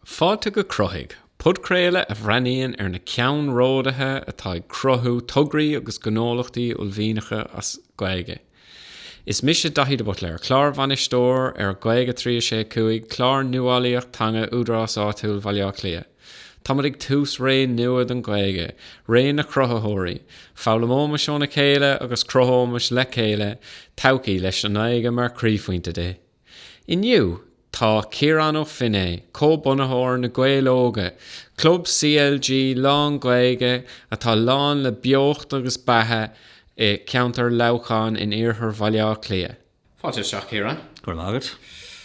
Fáilte go Cruthaigh, podchraoladh a bhreathnaíonn ar na ceannródaithe atá ag cruthú tograí agus gnólachtaí uaillmhianacha as Gaeilge. Is mise Daithí de Buitléir, Clárbhainisteoir ar Gaeilge 365, clár nuálaíocht teanga Údarás Áitiúil Bhaile Átha Cliath. Táimid ag tús ré nua don Ghaeilge, ré na cruthaitheoirí. Foghlaimeoimis óna chéile agus cruthóimis le chéile todhchaí leis an nGaeilge mar chroíphointe de. Inniu, tá Ciarán Ó Feinneadha, comhbhunaitheoir Na Gaeil Óga, club CLG lán-Ghaeilge atá lán le beocht agus beatha i gceantar Leamhcháin in iarthar Bhaile Átha Cliath. Fáilte isteach, Ciarán. Go raibh maith agat.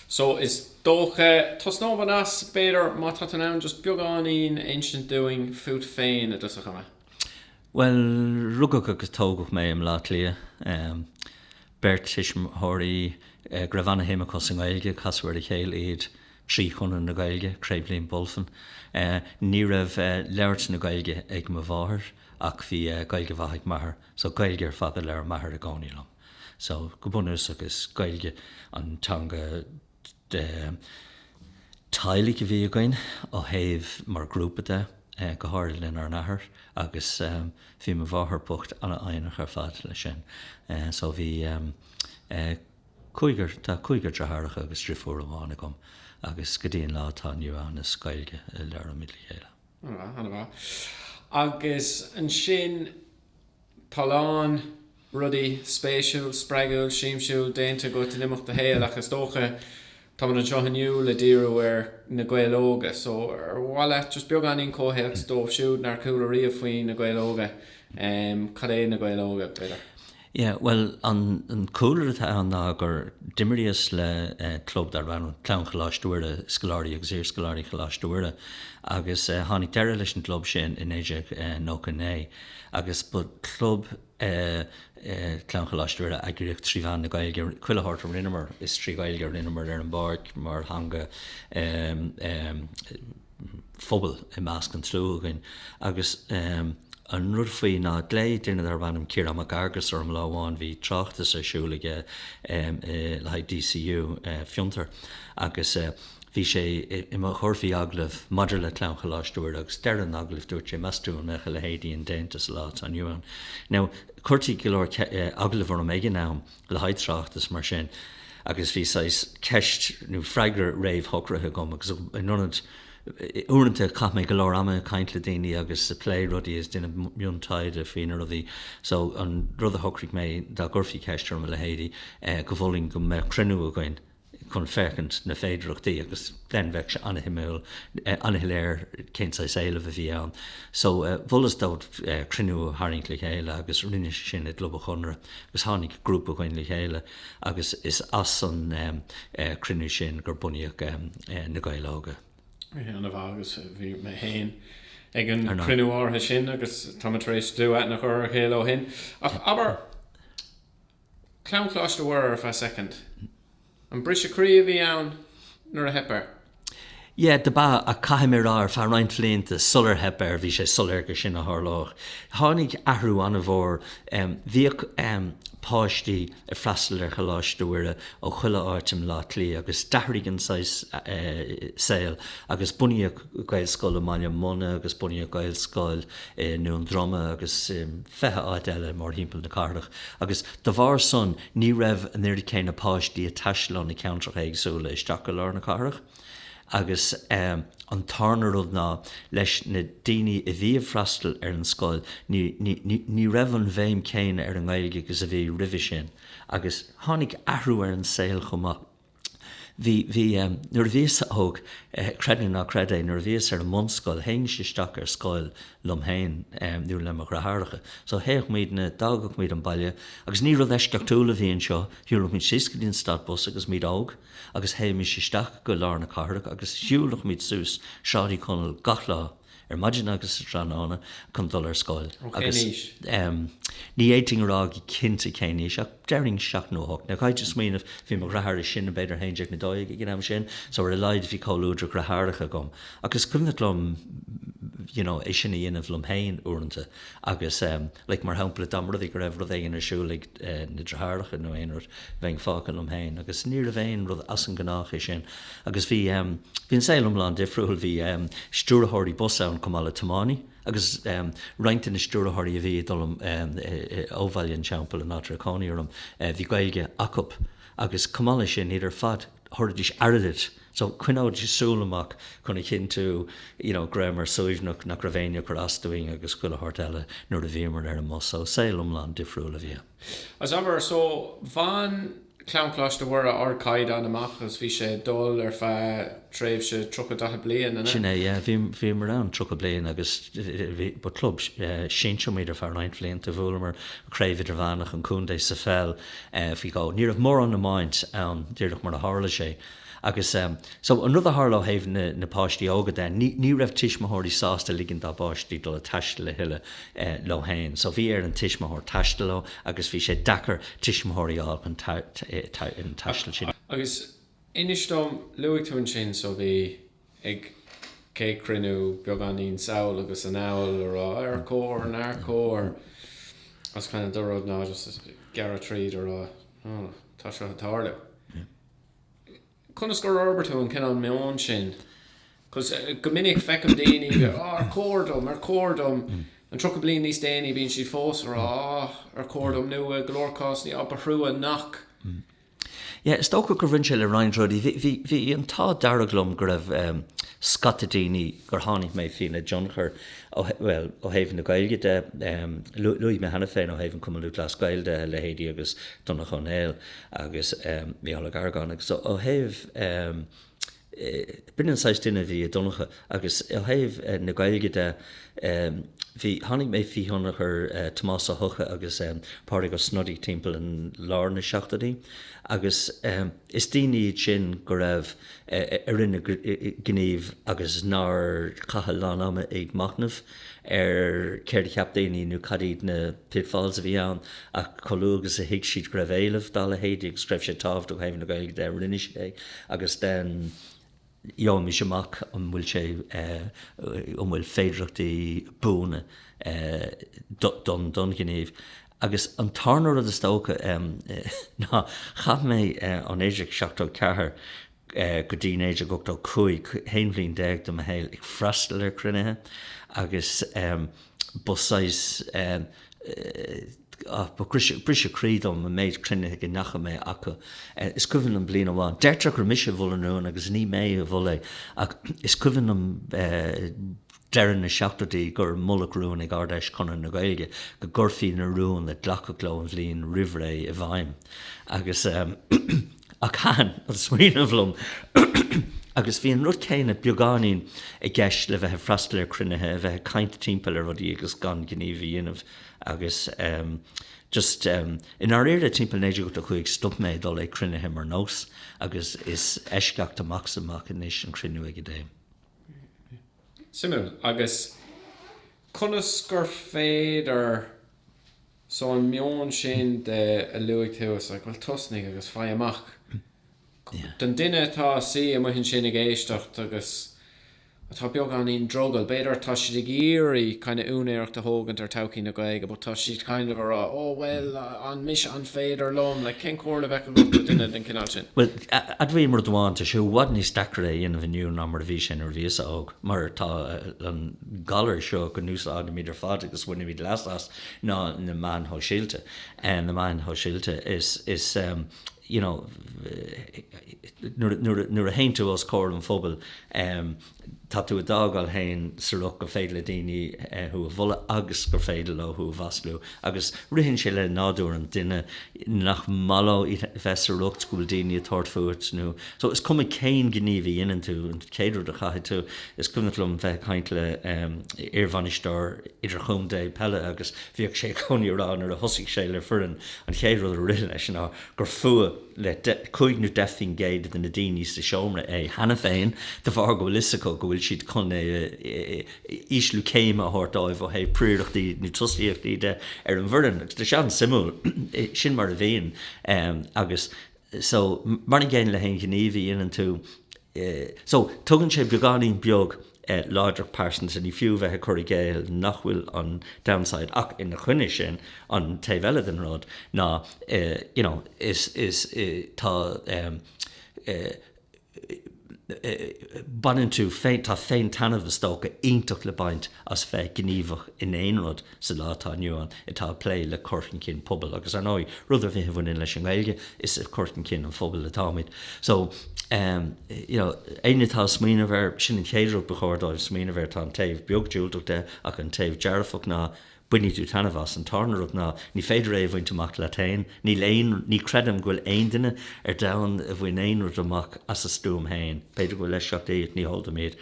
So, is dócha, tosnóidh mé anois, b'fhéidir, má tá tú in ann just beagáinín a insint dúinn fút féin i dtosach ama. Bhuel, rugadh agus tógadh mé i mBleá Cliath. Beirt tuismitheoirí go raibh ana-shuim acu sa nGaeilge, casadh ar a chéile iad trí Chonradh na Gaeilge, Craobh Liam Bulfin. Ní raibh labhairt na Gaeilge ag mo mháthair ach bhí Gaeilge mhaith ag m'athair, so Gaeilge ar fad a labhair m'athair i gcónaí liom. So, go bunúsach is Gaeilge an teanga. teaghlaigh a bhí againn ó thaobh, mar ghrúpa de, go háirid lenár n-athair agus bhí mo mháthair bocht an-fhoighneach ar fad leis sin. So bhí cúigear, tá cúigear deartháireacha agus driofúr amháin agam agus go dtí an lá atá inniu ann is Gaeilge a labhraímid le chéile. Ana mhaith, ana mhaith. Agus ansin. Tá a lán rudaí spéisiúil, spreagúil, siamsiúil déanta agat in imeacht do shaoil ach is dócha, tá muid anseo inniu le díriú ar Na Gaeil Óga so ar mhaith leat just beagáinín comhthéacs dóibh siúd nár chuala riamh faoi Na Gaeil Óga, cad é Na Gaeil Óga, b'fhéidir? Yeah, bhuel, an cúlra atá ann ná gur d'imríos le club darb ainm Clann Choláiste Mhuire, scoláirí agus iarscoláirí Choláiste Mhuire, agus tháinig deireadh leis an gclub sin i 1999. agus ba club é Clann Choláiste Mhuire a eagraíodh trí mheán na Gaeilge, chuile shórt a rinneamar, is trí Ghaeilge a rinneamar ar an bpáirc mar theanga phobail i measc an tslua againn agus an rud faoi ná ghlaoigh duine darb ainm Ciarán Mac Fhearghusa orm lá amháin, bhí tráchtas ar siúl aige le haghaidh DCU, Fiontar, agus. Bhí sé i mo chur faoi agallamh maidir le Clann Choláiste Mhuire agus deireadh an agallaimh dúirt sé, meas tú an mbeadh a leithéidí indéanta sa lá atá inniu ann? Now, chuirtí go leor agallamh orm ag an am le haghaidh tráchtas mar sin agus bhí saghas ceist nó freagra réamhshocraithe agam agus in ionad, uaireanta chaith mé go leor ama ag caint le daoine agus ag plé rudaí agus déanamh miontaighde faoi na rudaí so an rud a shocraigh mé dá gcuirfí ceist orm a leithéidí go molfainn go mbeadh cruinniú againn chun féachaint na féidireachtaí agus then bheadh sé an-shuimiúil, an-shoiléir cén saghas éilimh a bhí ann. So mholas dó cruinniú a tharraingt le chéile agus rinne sé sin i gClub an Chonartha agus tháinig grúpa againn le chéile agus is as an cruinniú sin a bunaíodh Na Gaeil Óga. An-mhaith agus bhí mé féin ag an chruinniú áirithe sin agus tá muid tar éis dlúthaithne a chur ar a chéile ó shin. Ach abair, Clann Choláiste Mhuire ar feadh soicind. An briseadh croí a bhí ann nuair a theip air? Yeah, do b'ea, ach caithfidh mé rá, ar feadh roinnt bhlianta sular theip air, bhí sé soiléir gur sin a tharlódh. Tháinig athrú an-mhór, bhíodh páistí ag freastal ar Choláiste Mhuire ó chuile áit i mBleá Cliath agus d'athraigh an saghas saol agus bunaíodh Gaelscoil i mBaile Munna agus bunaíodh Gaelscoil i nDún Droma agus i bhfiche áit eile mórthimpeall na cathrach. agus da bharr san ní raibh an oiread céanna páistí ag taisteal ó na ceantracha éagsúla isteach go lár na cathrach agus an tarna rud ná leis na daoine a bhí ag freastal ar an scoil ní raibh an bhéim chéanna ar an nGaeilge agus a bhí roimhe sin agus tháinig athrú ar an saol chomh maith. Bhí, bhí, nuair a bhíos óg, creid nó ná creid é, nuair a bhíos ar an mbunscoil, théimis isteach ar scoil liom féin nó le mo dheartháireacha. So théadh muidne, d'fhágadh muid an baile agus ní rud eisceachtúil a bhí anseo, shiúladh muid síos go dtí an stad bus agus muid óg agus théimis isteach go lár na cathrach agus shiúladh muid suas Sráid Uí Chonaill gach lá, ar maidin agus sa tráthnóna chun dul ar scoil. Ó cén aois? Ní fhéadfainn a rá go cinnte cén aois ach déarfainn seacht nó a hocht. Now caithfidh tú smaoineamh, bhí mo dheartháir is sine b'fhéidir a haon déag nó a dó dhéag ag an am sin so ar a laghad bhí comhluadar deartháireacha agam agus is cuimhneach liom you know é sin a dhéanamh liom féin uaireanta agus, Like, mar shampla, dá mba rud é go raibh rud éigin ar siúl ag na deartháireacha nó aon rud, bheinn fágtha liom féin. Agus níorbh aon rud as an gnách é sin. Agus bhí, bhí an saol iomlán difriúil. Bhí stiúrthóirí bus ann chomh maith le tiománaí. Agus roinnt de na stiúrthóirí a bhí ag dul ó Bhaile an Teampaill an áit a raibh cónaí orm, bhí Gaeilge acu. Agus chomh maith leis sin, iad ar fad, thabharfaidís airgead So, choinneoidís súil amach chun a chinntiú, you know, go rabhamar suaimhneach, nach raibh éinne ag cur as dúinn agus chuile shórt eile nuair a bhíomar ar an mbus. So, saol iomlán difriúil a bhí ann. Is abair, so, bhain Clann Choláiste Mhuire ardchaighdeán amach agus bhí sé ag dul ar feadh tréimhse tríocha, daichead bliain, an ea? Sin é, yeah. Bhí, bhíomar ann tríocha bliain agus bhí, ba club sinsear muid ar feadh roinnt bhlianta. Bhuamar Craobh Idirmheánach an Chontae sa pheil, faoi dhó. Ní raibh mórán iomáint ann, díreach mar a tharla sé. Agus so, an rud a tharla ó thaobh na páistí óga de, ní raibh tuismitheoirí sásta ligean dá bpáistí dul ag taisteal a thuilleadh leo féin. So bhí ar an tuismitheoir taisteal leo agus bhí sé deacair tuismitheoirí a fháil chun an taistil sin. Agus inis dom, luaigh tú ansin so bhí OK cruinniú beagáinín sall agus anall ag rá ar chóir, nár chóir agus kind of do rud ná just gearradh tríd ag rá tá seo ag tarlú. Conas gur fhorbair tú an cineál meoin sin? Cos, Go minic feicim daoine ag rá, 'Ar chóir dom? Ar chóir dom? And tríocha bliain níos déanaí bíonn siad fós ag rá, 'Ar chóir dom? Nó i go leor cásanna, 'Á, ba thrua nach. Yeah, is dócha gur bhain sé le roinnt rudaí. Bhí an t-ádh dearg liom go raibh scata daoine. gur tháinig mé faoina dtionchar ó, bhuel, ó thaobh na Gaeilge de, luaigh mé cheana féin ó thaobh an Chumann Lúthchleas Gael de, leithéidí agus Donncha Ó Néill agus Mícheál Ó Garagáin agus ó thaobh, b'in an saghas duine a bhí i Donncha agus ó thaobh na Gaeilge de, bhí, tháinig mé faoi thionchar Tomás Ó hEocha agus Pádraig Ó Snodaigh timpeall an, lár na seachtóidí agus. Is daoine iad sin go raibh a rinne gníomh agus nár chaith a lán ama ag machnamh ar céard a cheap daoine nó cad iad na pitfalls a bhí ann ach chomh luath agus a thuig siad go raibh éileamh dá leithéidí agus go raibh sé tábhachtach ó thaobh na Gaeilge de, rinne siad é agus then. gheobhaimis amach an bhfuil sé, an bhfuil féidireachtaí buana don ghníomh. Agus an tarna rud is dócha ná, chaith mé ó 1974 go dtí 1985, haon bhliain déag de mo shaol ag freastal ar chruinnithe agus ba saghas, Briseadh croí dom an méid cruinnithe go ndeachaigh mé chucu. Is cuimhin liom bliain amháin, deirtear gur mise a mhol an rún agus ní mé a mhol é, ach is cuimhin liom deireadh na seachtóidí gur moladh rún ag Ard-Fheis Chonradh na Gaeilge go gcuirfí na rúin a glacadh leo an bhliain roimhré i bhfeidhm. Ach thaitin an smaoineamh liom agus bhí an rud céanna beagáinín i gceist le bheith ag freastal ar chruinnithe, a bheith ag caint timpeall ar rudaí agus gan gníomh a dhéanamh agus ehm, just ehm, i ndáiríre timpeall 1985 stop mé ag dul ag cruinnithe mar nós agus is eisceacht amach is amach anois an cruinniú ag a dtéim. Suimiúil. Agus conas gur féidir. So an meon sin a luaigh tú, is like, bhuel tosnaigh agus faigh amach. Don duine atá suí amuigh ansin ag éisteacht agus atá beagáinín drogall, b'fhéidir tá siad ag iarraidh kind of úinéireacht a thógaint ar thodhchaí na Gaeilge but tá siad kind of a rá, oh bhuel, an mise, an féidir liom, like cén comhairle a bheadh agat do duine den chineál sin? Bhuel, admhaím ar dtús, tá sé i bhfad níos deacra é a dhéanamh inniu ná mar a bhí sé nuair a bhíos-sa óg mar tá an gairis seo go n-úsáidimid ar fad agus bainimid leas as. ná na meáin shóisialta, na meáin shóisialta is, is um you know nuair a, nuair a théann tú os comhair an phobail um tá tú do d'fhágáil féin sa riocht gur féidir le daoine thú a bhualadh agus gur féidir leo thú a mhaslú agus ritheann sé le nádúr an duine nach maith leo bheith sa riocht go bhfuil daoine ag tabhairt fút nó So, is cuma cén gníomh a dhéanann tú, an chéad rud a chaithfidh tú, is cuimhneach liom bheith ag caint le iarbhainisteoir idirchontae peile agus bhíodh sé i gcónaí ag rá nuair a thosaigh sé le foireann, an chéad rud a rith leis ná gur fuath le cúig nó deich faoin gcéad de na daoine sa seomra é cheana féin de bharr go bhfuil fhios acu go bhfuil siad chun ísliú céime a thabhairt dóibh ó thaobh prióireachtaí nó tosaíochtaí de ar an bhfoireann. Agus tá sé an-suimiúil, sin mar a bhíonn agus. so, mar an gcéanna le haon ghníomh a dhéanann tú, so, tugann sé beagáinín beag láidreacht phearsanta, ní fiú bheith ag cur i gcéill nach bhfuil aon downside ach ina choinne sin, an taobh eile den rud ná, you know, is, is, tá, baineann tú féin, tá féin, taitneamh, is dócha, iontach le baint as bheith gníomhach in aon rud sa lá atá inniu ann atá ag plé le cur chun cinn pobail agus, ar ndóigh, rud ar bith a bhaineann leis an nGaeilge, is ag cur chun cinn an phobail atáimid. So, you know, éinne atá ag smaoineamh air, sin an chéad rud ba chóir dóibh smaoineamh air, tá an taobh beag diúltach de ach an taobh dearfach ná, Bainfidh tú taitneamh as, an tarna rud ná ní féidir é a bhaint amach leat fhéin, níl aon, ní chreidim go bhfuil aon duine ar domhan a bhain aon rud amach as a stuaim fhéin, b'fhéidir go bhfuil eisceachtaí ach ní heol dom iad.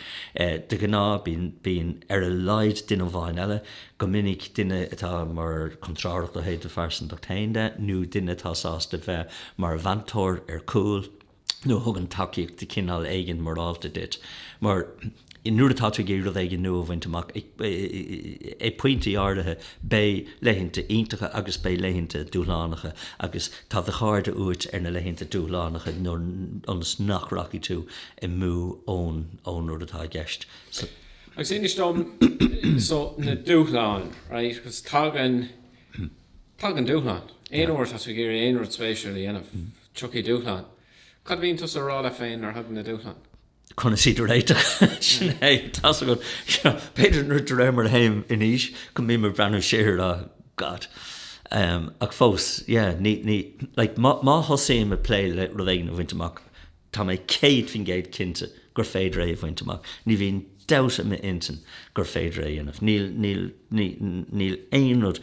De ghnáth bíonn, bíonn ar a laghad duine amháin eile, go minic duine atá mar chontrárthacht ó thaobh do phearsantachta fhéin de, nó duine atá sásta bheith mar mheantóir ar cúl, nó a thugann tacaíocht de chineál éigin morálta duit. Mar nuair atá tú ag iarraidh rud éigin nua a bhaint amach, ag pointí áirithe, beidh laethanta iontacha agus beidh laethanta dúshlánacha agus tá do chairde uait ar na laethanta dúshlánacha ionas nach rachaidh tú amú ón rud atá i gceist. Agus inis dom so na dúshláin, right, because tagann, tagann dúshláin aon uair atá tú ag iarraidh aon rud spéisiúil a dhéanamh. Tiocfaidh dúshláin. Cad a bhíonn tusa a rá leat féin nuair a thagann na dúshláin? Conas iad a réiteach? Sin é. Tá's agat. B'fhéidir nuair, de réir mar a théim in aois, go mbím ag breathnú siar a rá, God. Ach fós, yeah, ní, ní, like, má, má thosaím ag plé le rud éigin a bhaint amach, tá mé céad faoin gcéad cinnte gur féidir é a bhaint amach. Ní bhíonn. dabht i m'intinn gur féidir é a dhéanamh. Níl, níl, ní, níl aon rud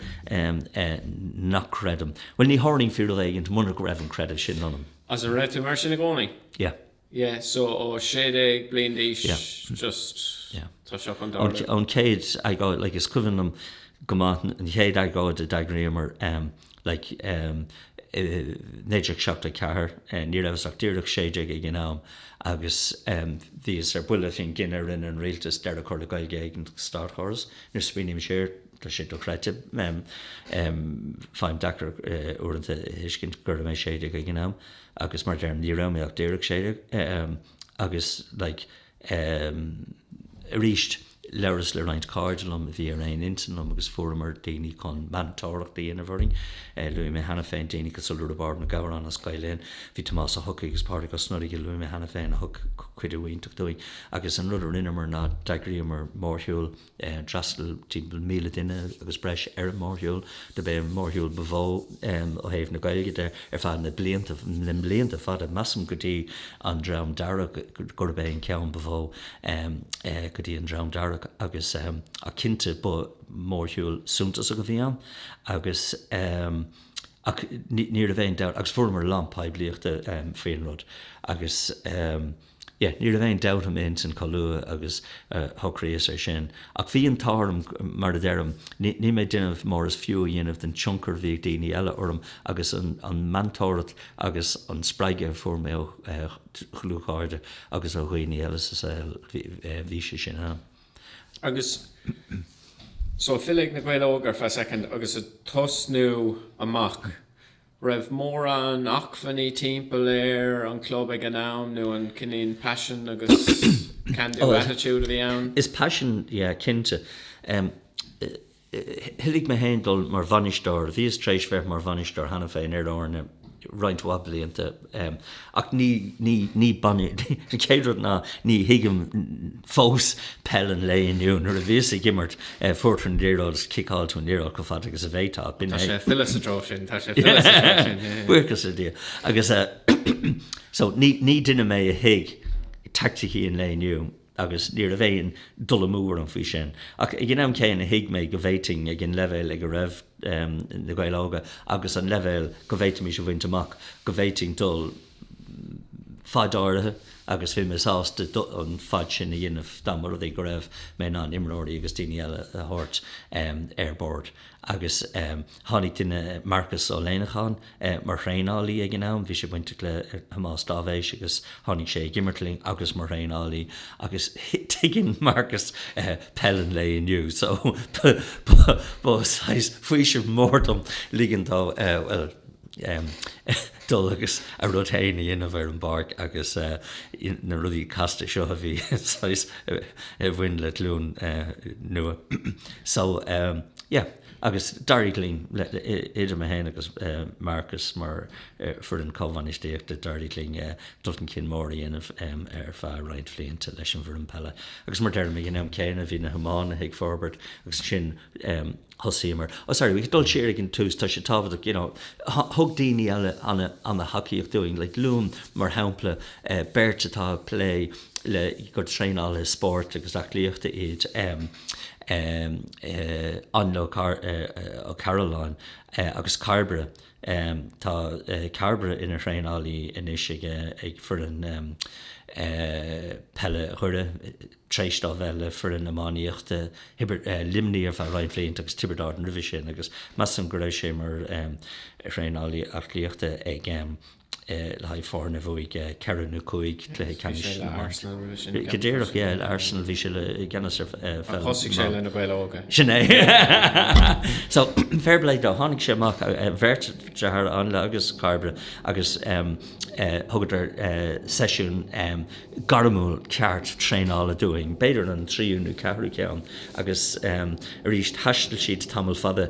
nach gcreidim. Bhuel, ní tharlaíonn fíor rud éigint muna go raibh an creideamh sin ionam. Is an raibh tú mar sin i gcónaí? Yeah. Yeah, so ó sé déag bliain d'aois, just, tá seo chun tarlú. An chéad agóid, like, is cuimhin liom go maith an chéad agóid a d'eagraíomar. like, in 1974 ní rabhas ach díreach sé déag ag an am agus bhíos ar buile faoin gcinneadh a rinne an rialtas deireadh a chur le Gaeilge ag an státchóras. Nuair a smaoiním siar tá sé dochreidte, faighim deacair uaireanta a thuiscint go raibh mé sé déag ag an am agus mar a deirim ní raibh mé ach díreach sé déag agus, like, Aaa, aríst, labhras le roinnt cairde liom a bhí ar aon intinn liom agus fuaireamar daoine chun meantóireacht a dhéanamh orainn. Luaigh mé cheana féin daoine cosúil le Riobard Mac Góráin as Gael Linn, bhí Tomás Ó hEochaidh agus Pádraig Ó Snodaigh a luaigh mé cheana féin a thug cuidiú iontach dúinn. Agus an rud a rinneamar ná d'eagraíomar mórshiúl, d'fhreastail timpeall míle duine agus breis ar an mórshiúl, dob é an mórshiúl ba mhó ó thaobh na Gaeilge de ar feadh na mblianta fada, measaim, go dtí an Dream Dearg, gurb é an ceann ba mhó go dtí an Dream Dearg agus ach cinnte ba mhórshiúl suntasach a bhí ann agus ach ní raibh aon dabht agus fuaireamar a lán poiblíochta faoin rud agus. Yeah, ní raibh aon dabht a'm ansin chomh luath agus a shocraíos ar sin. Ach bhí an t-ádh orm, mar a deirim, níl mé ag déanamh mór is fiú a dhéanamh den tionchar a bhí ag daoine eile orm agus an meantóireacht agus an spreagadh a fuair mé ó dhlúthchairde agus ó dhaoine eile sa saol, bhí sé sin ann. Agus so, filleadh ag Na Gaeil Óga ar feadh soicind agus ag tosnú amach. raibh mórán acmhainní timpeall ar an chlub ag an am nó an cineál passion agus can do attitude a bhí ann. Is passion, yeah, cinnte. Thoiligh mé féin dul mar bhainisteoir, bhíos tar éis bheith mar bhainisteoir cheana féin ar fhoirne roinnt mhaith blianta. Ach ní baineann, an chéad rud ná ní thuigim fós peil an lae inniu. Nuair a bhíos ag imirt, fuair tú an liathróid agus ciceáil tú an liathróid chomh fada agus a bhféadfá. Tá sé ag filleadh sa treo sin, tá sé ag filleadh sa treo sin. Buíochas le Dia. Agus so ní duine mé a thuig teaicticí an lae inniu. agus ní raibh aon dul amú orm faoi sin, ach ag an am céanna thuig mé go bhféadfainn, ag an leibhéal ag a raibh Na Gaeil Óga agus an leibhéal go bhféadfaimis a bhaint amach, go bhféadfainn dul fad áirithe agus bhí mé sásta an fad sin a dhéanamh dá mba rud é go raibh mé in ann imreoirí agus daoine eile a thabhairt ar bord agus. Tháinig duine, Marcus Ó Léanacháin, mar thraenálaí ag an am. Bhí sé bainteach le Tomás Dáibhéis agus tháinig sé ag imirt linn agus mar thraenálaí agus tuigeann Marcus peil an lae inniu so ba saghas faoiseamh mór dhom ligean dó, bhuel, dul agus a rud féin a dhéanamh ar an bpáirc agus na rudaí casta seo a bhí saghas, a bhain le glúin nua. So, yeah. agus d'éirigh linn, idir mé féin agus Marcus mar foireann comhbhainistíochta, d'éirigh linn dul chun cinn mór a dhéanamh ar feadh roinnt bhlianta leis an bhfoireann peile agus mar deirim, ag an am céanna bhí na hiománaithe ag forbairt agus ansin thosaíomar, oh sorry, ag dul siar ag an tús, tá sé tábhachtach, you know, thug daoine eile ana-thacaíocht dúinn, like luaim, mar shampla beirt atá ag plé le, gur traenálaithe spóirt agus aclaíochta iad. Ainle Ó Cairealláin agus Cairbre. Tá Cairbre ina thraenálaí anois ag foireann peile Dhoire tar éis dó bheith le foireann iománaíochta Luimnigh ar feadh roinnt bhlianta agus Tiobraid Árann roimhe sin agus measaim go raibh sé mar thraenálaí aclaíochta ag le haghaidh foirne a bhuaigh ceithre nó cúig cluiche ceannais na mban. Go díreach, yeah, le Arsenal, bhí sé i gceannas ar pheil na mban. Thosaigh sé le Na Gaeil Óga. Sin é. So, fair play dó, tháinig sé amach, beirt deartháir, Ainle agus Cairbre, agus thugadar seisiún gairmiúil ceart traenála dúinn, b'fhéidir an tríú nó ceathrú ceann, agus arís, thaistil siad tamall fada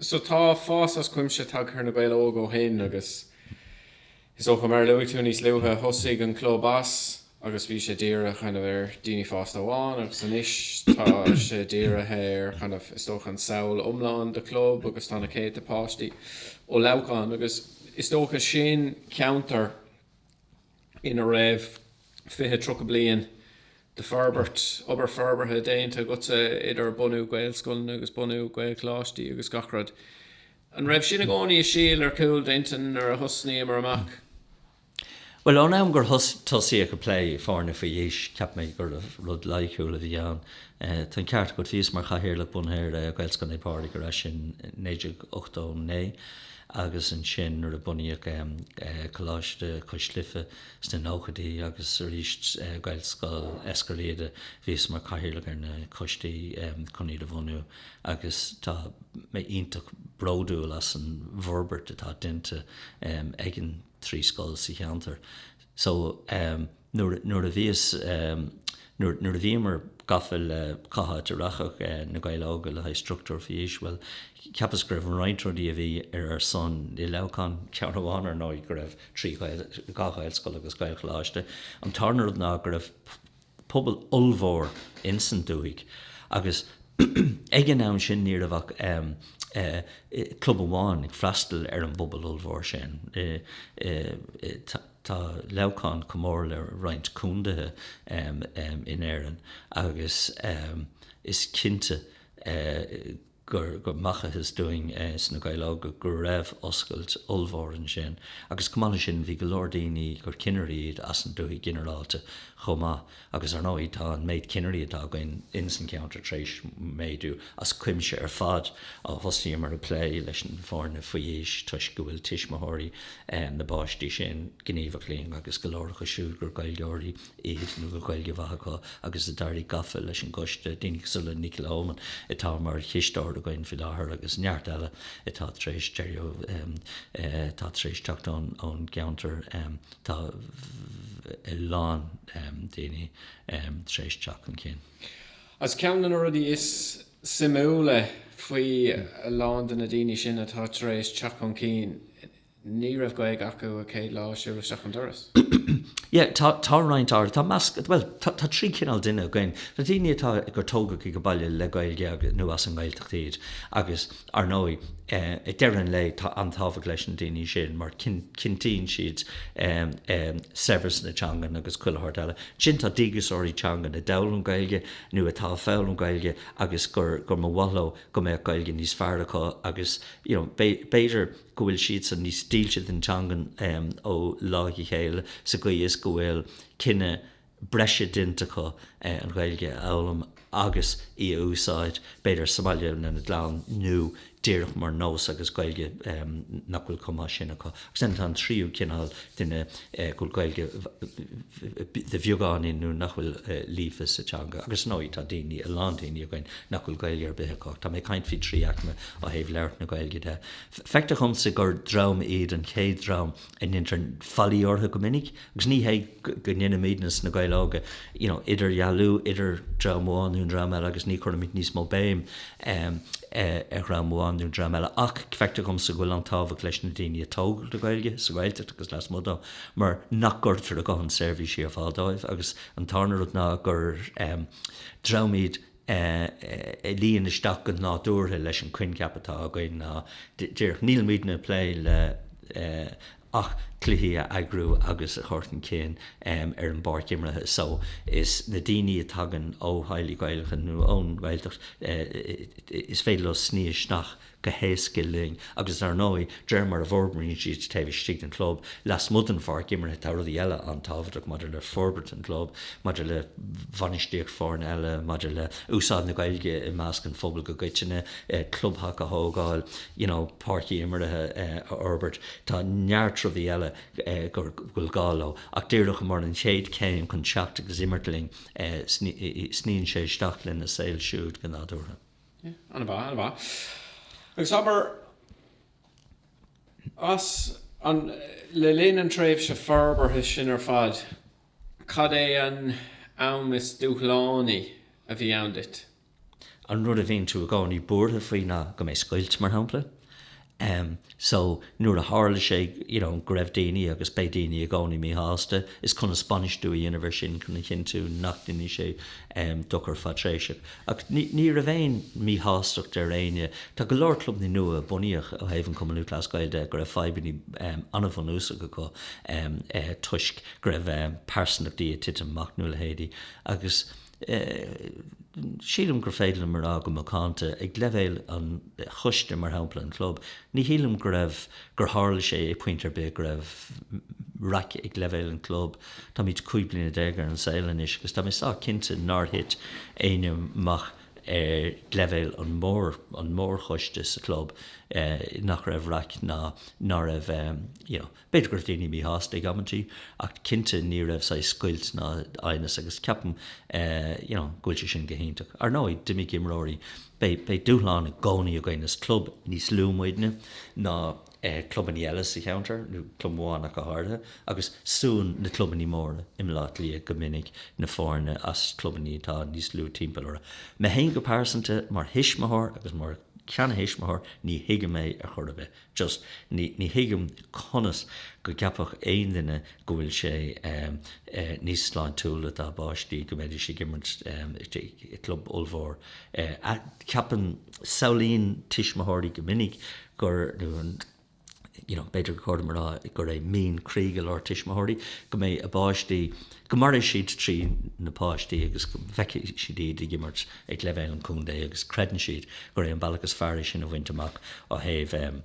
So tá fás as cuimse tagtha ar Na Gaeil Óga ó shin agus is dócha, mar a luaigh tú níos luaithe, thosaigh an club as agus bhí sé dírithe kind of ar daoine fásta amháin agus anois tá sé dírithe ar kind of is dócha an samhail iomlán de chlub agus tá na céadta páistí ó Leamhcán agus is dócha sin ceantar ina raibh fiche, tríocha bliain de forbairt, obair forbartha déanta agatsa idir bunú Gaelscoileanna agus bunú Gaelcholáistí agus gach rud. An raibh sin i gcónaí ina shíol ar chúl d'intinn nuair a thosnaíomar amach? Bhuel, ón am gur tosaíodh ag plé foirne faoi aois, cheap mé gurbh rud loighiciúil a bhí ann. Tá an ceart agat, bhíos mar Chathaoirleach, Bunaitheoir, Gaelscoil Naomh Pádraig ar ais in 1989. agus ansin nuair a bunaíodh Coláiste Cois Life sna nóchaidí agus arís Gaelscoil Eiscir Riada, bhíos mar cathaoirleach ar na coistí chun iad a bhunú agus tá mé iontach bródúil as an bhforbairt atá déanta ag na trí scoil sa cheantar so. nuair a bhíos, nuair, nuair a bhíomar gafa le cá háit a rachadh Na Gaeil Óga le haghaidh structúr faoi aois, bhuel, ceapas go raibh roinnt rudaí a bhí ar ar son i Leamhcán, ceann amháin, ar ndóigh, go raibh trí Ghael, dhá Ghaelscoil agus Gaelcholáiste, an tarna rud ná go raibh pobal ollmhór ins an dúthaigh agus ag an am sin ní raibh ach club amháin ag freastal ar an bpobal ollmhór sin, Tá Leamhcán chomh mór le roinnt contaetha in Éirinn agus is cinnte gur facthas dúinn sna Gaeil Óga go raibh oscailt ollmhór ansin. Agus chomh maith leis sin, bhí go leor daoine gur cinnirí iad as an dúthaigh ginearálta chomh maith. Agus, ar ndóigh, tá an méid cinnirí atá againn ins an ceantar tar éis méadú as cuimse ar fad ó thosaíomar ag plé leis na foirne faoi aois toisc go bhfuil tuismitheoirí na bpáistí sin gníomhach linn agus go leor acu siúd gur Gaeilgeoirí iad nó go bhfuil Gaeilge mhaith acu agus a d'éirigh gafa leis an gCoiste, daoine cosúil le Nicky Lohmann atá mar chisteoir againn faoi láthair agus neart eile atá tar éis éirí, atá tar éis teacht ón gceantar. Tá a lán daoine tar éis teacht chun cinn. Ach ceann de na rudaí is suimiúla faoi a lán de na daoine sin atá tar éis teacht chun cinn, ní raibh Gaeilge acu an chéad lá a shiúil siad isteach an doras. Sea, tá roinnt áirithe, tá measc, bhuel, tá trí chineál duine againn, tá daoine atá, gur tógadh sa bhaile le Gaeilge nó as an nGaeltacht iad agus, Ar ndóigh, ag deireadh an lae, tá an-tábhacht leis na daoine sin mar cinntíonn siad saibhreas na teangan agus chuile shórt eile. Ansin tá díograiseoirí teanga a d'fhoghlaim Gaeilge nó atá ag foghlaim Gaeilge agus gur mba mhaith leo go mbeadh Gaeilge níos fearr acu agus b'fhéidir go bhfuil siadsan níos dílse don teanga ó lá go chéile sa gcaoi is go bhfuil cinneadh breise déanta acu an Ghaeilge a fhoghlaim agus í a úsáid, b'fhéidir sa mbaile lena gclann, nó díreach mar nós agus Gaeilge nach bhfuil chomh maith sin acu. Agus ansin tá an tríú cineál duine go bhfuil Gaeilge ar bheagán nó nach bhfuil líofa sa teanga. Agus ar ndóigh tá daoine, a lán daoine againn nach bhfuil Gaeilge ar bith acu. Tá mé ag caint faoi trí aicme ó thaobh labhairt na Gaeilge de. Feictear dhomsa gur dream iad an chéad dream a ndeintear faillí orthu go minic, Agus ní héard go ndeinimíd ins na Gaeil Óga, you know, idirdhealú idir dream amháin nó an dream eile agus ní chuirimid níos mó béim ar dhream amháin nó dream eile ach feictear dhomsa go bhfuil an-tábhacht leis na daoine a tógadh le Gaeilge, sa Ghaeltacht agus lasmuigh dó, mar nach gcuirtear a ndóthain seirbhísí ar fáil dóibh agus an tarna rud ná gur dream iad a luíonn isteach go nádúrtha leis an coincheap atá againn ná díreach nílimidne ag plé le ach cluichí a eagrú agus a chur chun cinn ar an bpáirc imeartha so is na daoine a tagann ó theaghlaigh Ghaelacha nó ón nGaeltacht is féidir leo sní isteach go héasca linn agus ar ndóigh de réir mar a bhforbraíonn siad taobh istigh den chlub, lasmuigh den pháirc imeartha tá rudaí eile an-tábhachtach maidir le forbairt an chlub, maidir le bhainistíocht foirne eile, maidir le úsáid na Gaeilge i measc an phobail i gcoitinne, clubtheach a thógáil, you know. páircí imeartha a fhorbairt. Tá neart rudaí eile go bhfuil gá leo, ach díreach mar an chéad chéim chun teacht agus imirt linn, sníonn sé isteach lena saol siúd go nádúrtha. An ea? An ea? Agus abair, as an, le linn an tréimhse forbartha sin ar fad, cad é an t-am is dúshlánaí a bhí ann duit? an rud a bhíonn tú i gcónaí buartha faoi ná go mbeidh scoilt, mar shampla. So, nuair a tharla sé, you know, go raibh daoine agus beidh daoine i gcónaí míshásta, is conas bainistiú a dhéanamh ar sin chun a chinntiú nach ndéanfaidh sé dochar fadtréimhseach. Ach ní raibh aon mhíshástacht ar éinne. Tá go leor clubannaí nua a bunaíodh ó thaobh an Cumann Lúthchleas Gael de go raibh fadhbannaí an-bhunúsacha acu toisc go raibh pearsantachtaí ag titim amach, nó a leithéidí. Agus. Sílim gur féidir liom a rá go macánta, ag leibhéal an choiste, mar shampla, an chlub, ní shílim go raibh, gur tharla sé ag pointe ar bith go raibh raic ag leibhéal an chlub. Táimid cúig bliana déag ar an saol anois agus tá mé sách cinnte nár thit éinne amach ar leibhéal an mhór, an mhórchoiste sa chlub, nach raibh raic ná ná raibh, you know, B'fhéidir go raibh daoine míshásta ag amantaí ach cinnte ní raibh saghas scoilt ná aighneas agus ceapaim you know go bhfuil sé sin go hiontach. Ar ndóigh, d'imigh imreoirí, beidh dúshláin i gcónaí againn, is club níos lú muidne ná clubanna eile sa cheantar, nó club amháin ach go háirithe, agus súnn na clubanna móra i mBleá Cliath go minic na foirne as clubanna atá níos lú timpeall orthu. Mé féin go pearsanta, mar thuismitheoir agus mar sheantuismitheoir, ní thuigim é ar chor ar bith. just ní thuigim conas go gceapfadh aon duine go bhfuil sé níos sláintiúla dá bpáistí go mbeidís ag imirt i gclub ollmhór. Ceapann. Samhlaíonn tuismitheoirí go minic gur, nó you know b'fhéidir gur chóir dom a rá, gur é mian croí go leor tuismitheoirí go mbeidh a bpáistí, go mairfidh siad trí na páistí agus go bhfeicfidh siad iad ag imirt ag leibhéal an chontae agus creideann siad gur é an bealach is fearr é sin a bhaint amach ó thaobh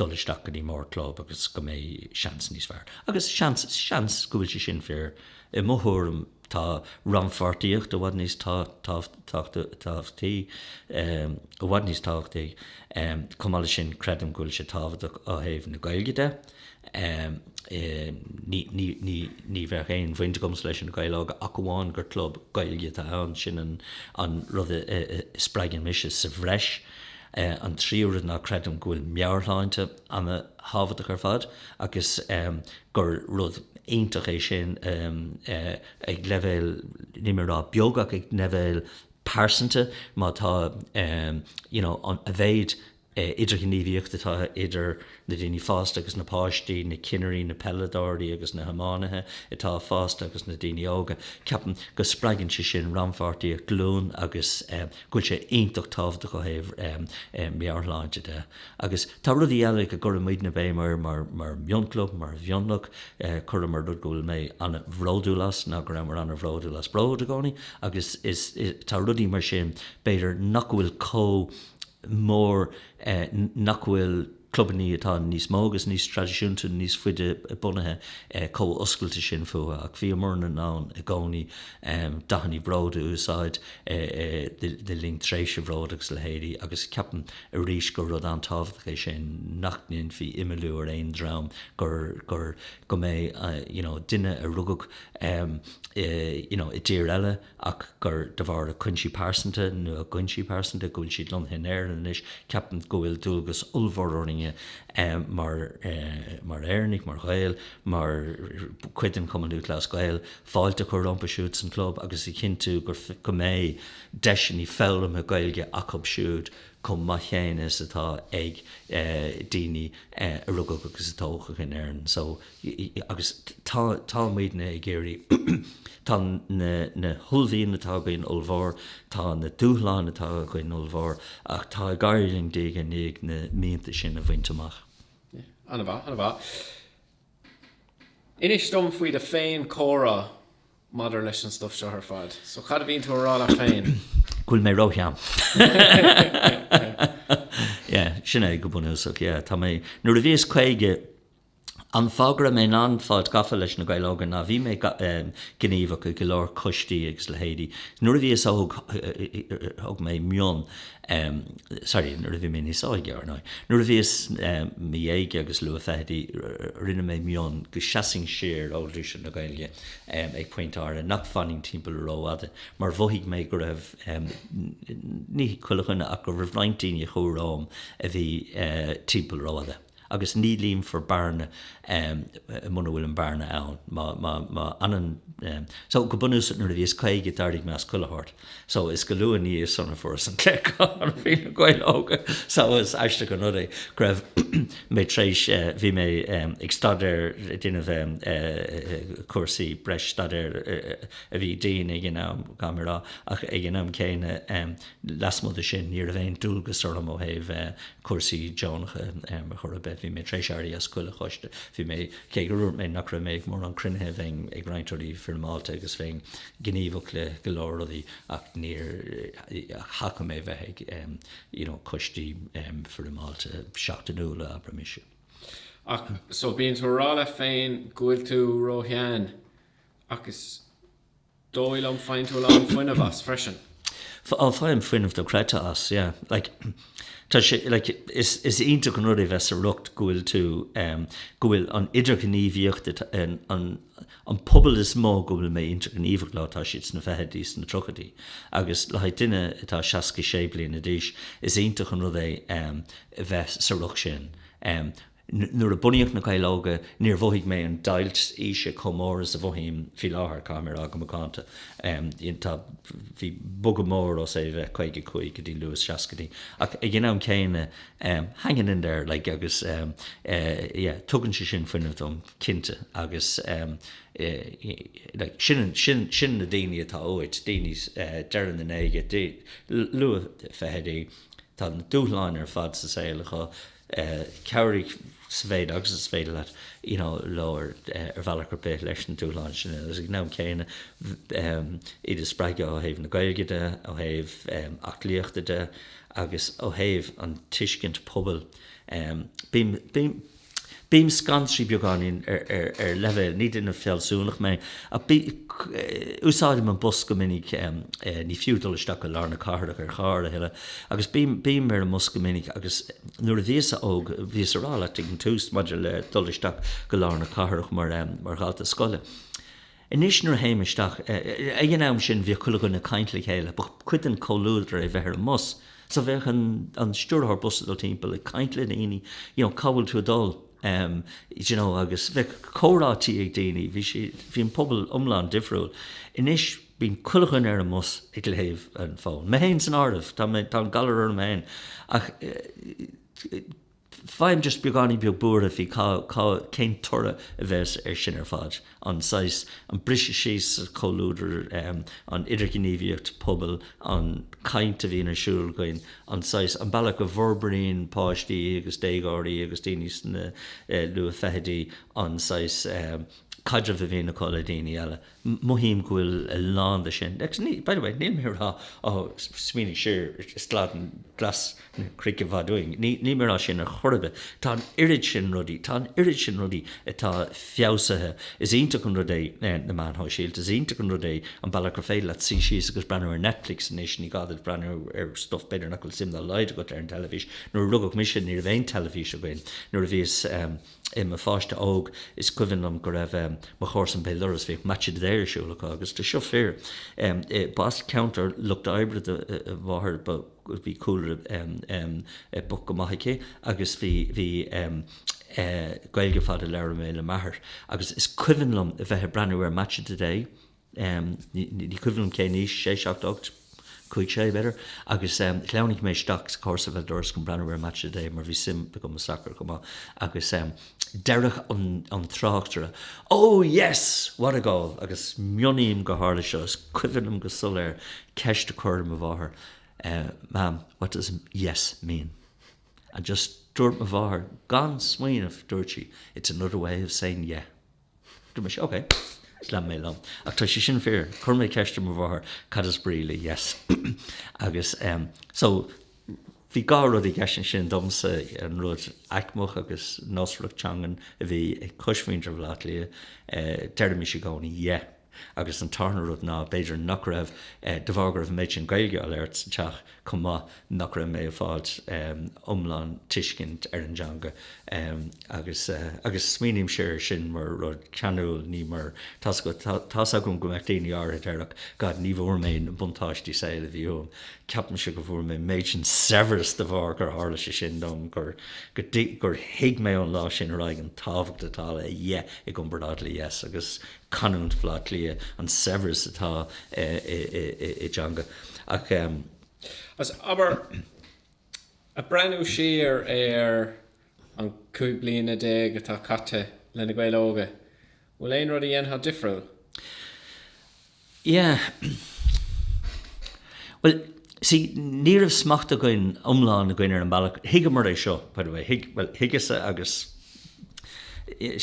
dul isteach go dtí mórchlub agus go mbeidh seans níos fearr agus seans go bhfuil sé sin fíor i mo thuairim tá rannpháirtíocht i bhfad níos tábhachtaí, i bhfad níos tábhachtaí, chomh maith leis sin creidim go bhfuil sé tábhachtach ó thaobh na Gaeilge de. Ní bheadh aon bhaint agamsa leis na Gaeil Óga ach amháin gur club Gaeilge atá ann, sin an rud a spreagann mise sa bhreis. An tríú rud ná creidim go bhfuil meabhairshláinte ana-thábhachtach ar fad agus gur rud iontach é sin ag leibhéal, níl mé ag rá beag ach ag leibhéal pearsanta, má tá, you know, a mhéid idirghníomhaíocht atá idir na daoine fásta agus na páistí, na cinnirí, na peileadóirí agus na hiománaithe atá fásta agus na daoine óga. Ceapaim go spreagann sé sin rannpháirtíocht glún agus go bhfuil sé iontach tábhachtach ó thaobh meabhairshláinte de. Agus tá rudaí eile go gcuirimidne béim air mar mhionchlub, mar mhionlach, cuireamar rud go bhfuil mé ana-bhródúil as ná go rabhamar ana-bhródúil as Bród i gcónaí agus tá rudaí mar sin b'fhéidir nach bhfuil chomh mór nach bhfuil clubannaí atá níos mó agus níos traidisiúnta, níos faide bunaithe chomh oscailte sin fúthu. Ach bhíomar in ann i gcónaí dathannaí bróid a úsáid le linn tréimhse Bhród agus leithéidí agus ceapaim arís gur rud an-tábhachtach é sin nach ndéanfaí imeallú ar aon dream gur, go mbeidh, you know, duine a rugadh, you know, i dtír eile, ach gur de bharr a cuinsí pearsanta, nó a gcuinsí pearsanta, go bhfuil siad lonnaithe in Éirinn anois. Ceapaim go bhfuil dualgas ollmhór orainn mar, mar Éireannaigh, mar Ghaeil, mar chuid den Chumann Lúthchleas Gael, fáilte a chur rompu siúd sa chlub agus a chinntiú gur, go mbeidh deiseannaí foghlamtha Gaeilge acu siúd chomh maith chéanna is atá ag daoine a rugadh agus a tógadh in Éirinn. agus tá muidne ag iarraidh, tá na huaillmhianta atá againn ollmhór, tá na dúshláin atá againn ollmhór, ach tá ag éirí linn diaidh ar ndiaidh na mianta sin a bhaint amach. An-mhaith, an-mhaith. Inis dom faoi do fhéinchomhrá maidir leis an stuif seo ar fad. So, cad a bhíonn tú a rá leat féin? Go bhfuil mé ró-shean. Yeah, sin é go bunúsach, yeah. Tá mé, nuair a bhíos caoga, An fáth go raibh mé in ann fáilt gafa leis Na Gaeil Óga ná bhí mé gníomhach i go leor coistí agus leithéidí nuair a bhíos óg, thug mé mionn, sorry, nuair a bhí mé níos óige, ar ndóigh. Nuair a bhíos i mo dhéaga agus luathfhichidí, rinne mé mionn go seasfainn siar ó ghluaiseacht na Gaeilge ag pointe áirithe, nach bhfanfainn timpeall rófhada mar mhothaigh mé go raibh, ní chuile dhuine, ach go raibh roinnt daoine romham a bhí timpeall rófhada. agus ní líonfar bearna muna bhfuil an bearna ann, má fhanann, so go bunúsach nuair a bhíos caoga d'éirigh mé as chuile short so is go luath ina dhiaidh sin a fuaireas an glaoch faoi na Gaeil óga so is aisteach an rud é go raibh mé tar éis bhí mé ag staidéar déanamh cúrsaí breis staidéar a bhí dian ag an am caithfidh mé a rá ach ag an am céanna Lasmuigh de sin, ní raibh aon dualgas orm ó thaobh cúrsaí deonacha ar chor ar bith. Bhí mé tar éis éirí as chuile choiste. Bhí mé, cé gur dhúirt mé nach raibh mé ag mórán cruinnithe, bheinn ag roinnt rudaí foirmeálta agus bheinn gníomhach le go leor rudaí ach níor theastaigh uaim bheith ag you know coistí foirmeálta seachtainiúla, abraimis. Ach, so bíonn tú a rá leat féin go bhfuil tú róshean ach is. dóigh liom, faigheann tú a lán fuinnimh as freisin. F, Á, faighim fuinneamh do-chreidte as, yeah. Like, tá sé, like, is, is iontach an rud é bheith sa riocht go bhfuil tú em, go bhfuil an idirghníomhaíocht, an, an, an pobal is mó go bhfuil mé idirghníomhach leo, tá siad sna fichidí, sna tríochaidí agus le haghaidh duine atá seasca sé bliana d'aois, is iontach an rud é em, bheith sa riocht sin. Em. Nuair a bunaíodh Na Gaeil Óga, níor mhothaigh mé an deighilt aoise chomh mór is a mhothaím faoi láthair, caithfidh mé a rá go macánta. Tá. Bhí bogadh mór ó bheith caoga cúig go dtí luathsheascaidí, ach ag an am céanna, hanging in there, like, agus, yeah, tugann sé sin fuinneamh dom, cinnte, agus, like, sin, sin, sin na daoine atá uait, daoine deireadh na ndéaga, luathfhichidí, tá na dúshláin ar fad sa saol acu, cabhraigh sa mhéid agus is féidir leat leo ar bhealach ar bith leis na dúshláin sin agus ag an am céanna iad a spreagadh ó thaobh na Gaeilge de, ó thaobh aclaíochta de agus ó thaobh an tuiscint pobail. Bím scanraithe beagáinín ar leibhéal, ní duine fealsúnach mé ach úsáidim an bus go minic, ní fiú dul isteach go lár na cathrach ar charr a thuilleadh, Agus bím ar an mbus go minic agus nuair a bhíos-sa óg, bhíos ag rá leat ag an tús maidir le dul isteach go lár na cathrach mar dhalta scoile. Anois nuair a théim isteach, ag an am sin bhíodh chuile dhuine ag caint le chéile, ba chuid den chomhluadar é bheith ar an mbus, so bheadh an stiúrthóir bus ag dul timpeall ag caint le daoine, you know, cá bhfuil tú ag dul? em, d'you know, agus bheadh comhráití ag daoine, bhí siad, bhí an pobal iomlán difriúil. Anois. Bíonn chuile dhuine ar an mbus ag léamh an fón, mé féin san áireamh, tá an galar orm féin, ach faighim just beagáinín beag buartha faoi cá, cá, cén toradh a bheas air sin ar fad, an saghas, an briseadh síos sa chomhluadar, an idirghníomhaíocht pobail, an chaint a bhíonn ar siúl againn, an saghas, an bealach go bhforbraíonn páistí agus déagóirí agus daoine sna luathfeichidí an saghas caidrimh a bhíonn acu le daoine eile. mothaím go bhfuil a lán de sin agus ní, by the way, níl mé a rá á smaoinigh siar ar slad glas na cnoic i bhfad uainn, ní, níl mé a rá sin ar chor ar bith. Tá an oiread sin rudaí, tá an oiread sin rudaí atá feabhsaithe. Is iontach an rud é na meáin shóisialta, is iontach an rud é an bealach gur féidir leat suí síos agus breathnú ar Netflix anois, ní gá duit breathnú ar stuif b'fhéidir nach bhfuil suim dá laghad agat ar an teilifís. Nuair a rugadh mise ní raibh aon teilifís againn, nuair a bhíos, eh, I mo pháiste óg, is cuimhin liom go raibh mo chomharsan béal dorais, bhíodh match of the day ar siúl acu agus tá seo fíor. B'as ceantar lucht oibre do mo mháthair, bhí cúlra bocht go maith aici agus bhí Gaeilge ar fad a labhair mé le m'athair agus is cuimhin liom a bheith ag breathnú ar match of the day, ní cuimhin liom cén aois, sé, seacht, ocht, cúig, sé, b'fhéidir, agus shleamhnaigh mé isteach sa chomharsa béal dorais chun breathnú ar match of the day mar bhí suim agam i sacar chomh maith agus deireadh an tráchtaire, Oh yes! What a goal! Agus mionnaím gur tharla seo, is cuimhin liom go soiléir ceist a chur ar mo mháthair, Mam, what does yes mean? And just dúirt mo mháthair gan smaoineamh, dúirt sí, It's another way of saying yeah. Dúirt mise, Ok, is lean mé liom. Ach tá sé sin fíor. Chuir mé ceist ar mo mháthair, Cad is brí le yes? Agus so bhí dhá rud i gceist ansin domsa, an rud aicmeach agus nósmhaireacht teangan a bhí ag cosmhuintir Bhaile Átha Cliath, deirimís i gcónaí yeah. Agus an tarna rud ná, b'fhéidir nach raibh, de bharr go raibh an méid sin Gaeilge á labhairt sa teach chomh maith, nach raibh mé ag fáil iomlán tuiscint ar an dteanga. Agus smaoinímse air sin mar rud ceanúil, ní mar, tá's agam go mbeadh daoine áirithe a déarfadh, God, ní bhfuair mé na buntáistí saoil a bhí uaim. Ceapaimse go bhfuair mé an méid sin saibhreas de bharr gur tharla sé sin dom, gur thuig mé ón lá sin ar aghaidh an tábhacht atá le yeah i gcomparáid le yes. Agus. canúint Bhleá Cliath, an saibhreas atá i dteanga ach. Agus, abair, ag breathnú siar ar an cúig bliana déag atá caite le Na Gaeil Óga, an bhfuil aon rud a dhéanfá difriúil? Yeah. Bhuel, see, ní raibh smacht againn iomlán againn ar an mbealach, thuigeamar é seo, by the way, bhuel, thuigeas-sa agus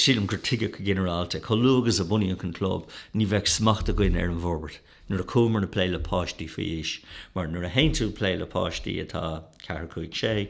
sílim gur tuigeadh go ginearálta, chomh luath agus a bunaíodh an club, ní bheadh smacht againn ar an bhforbairt, nuair a chuamar chun plé le páistí faoi aois, mar nuair a théann tú ag plé le páistí atá ceathair, cúig, sé,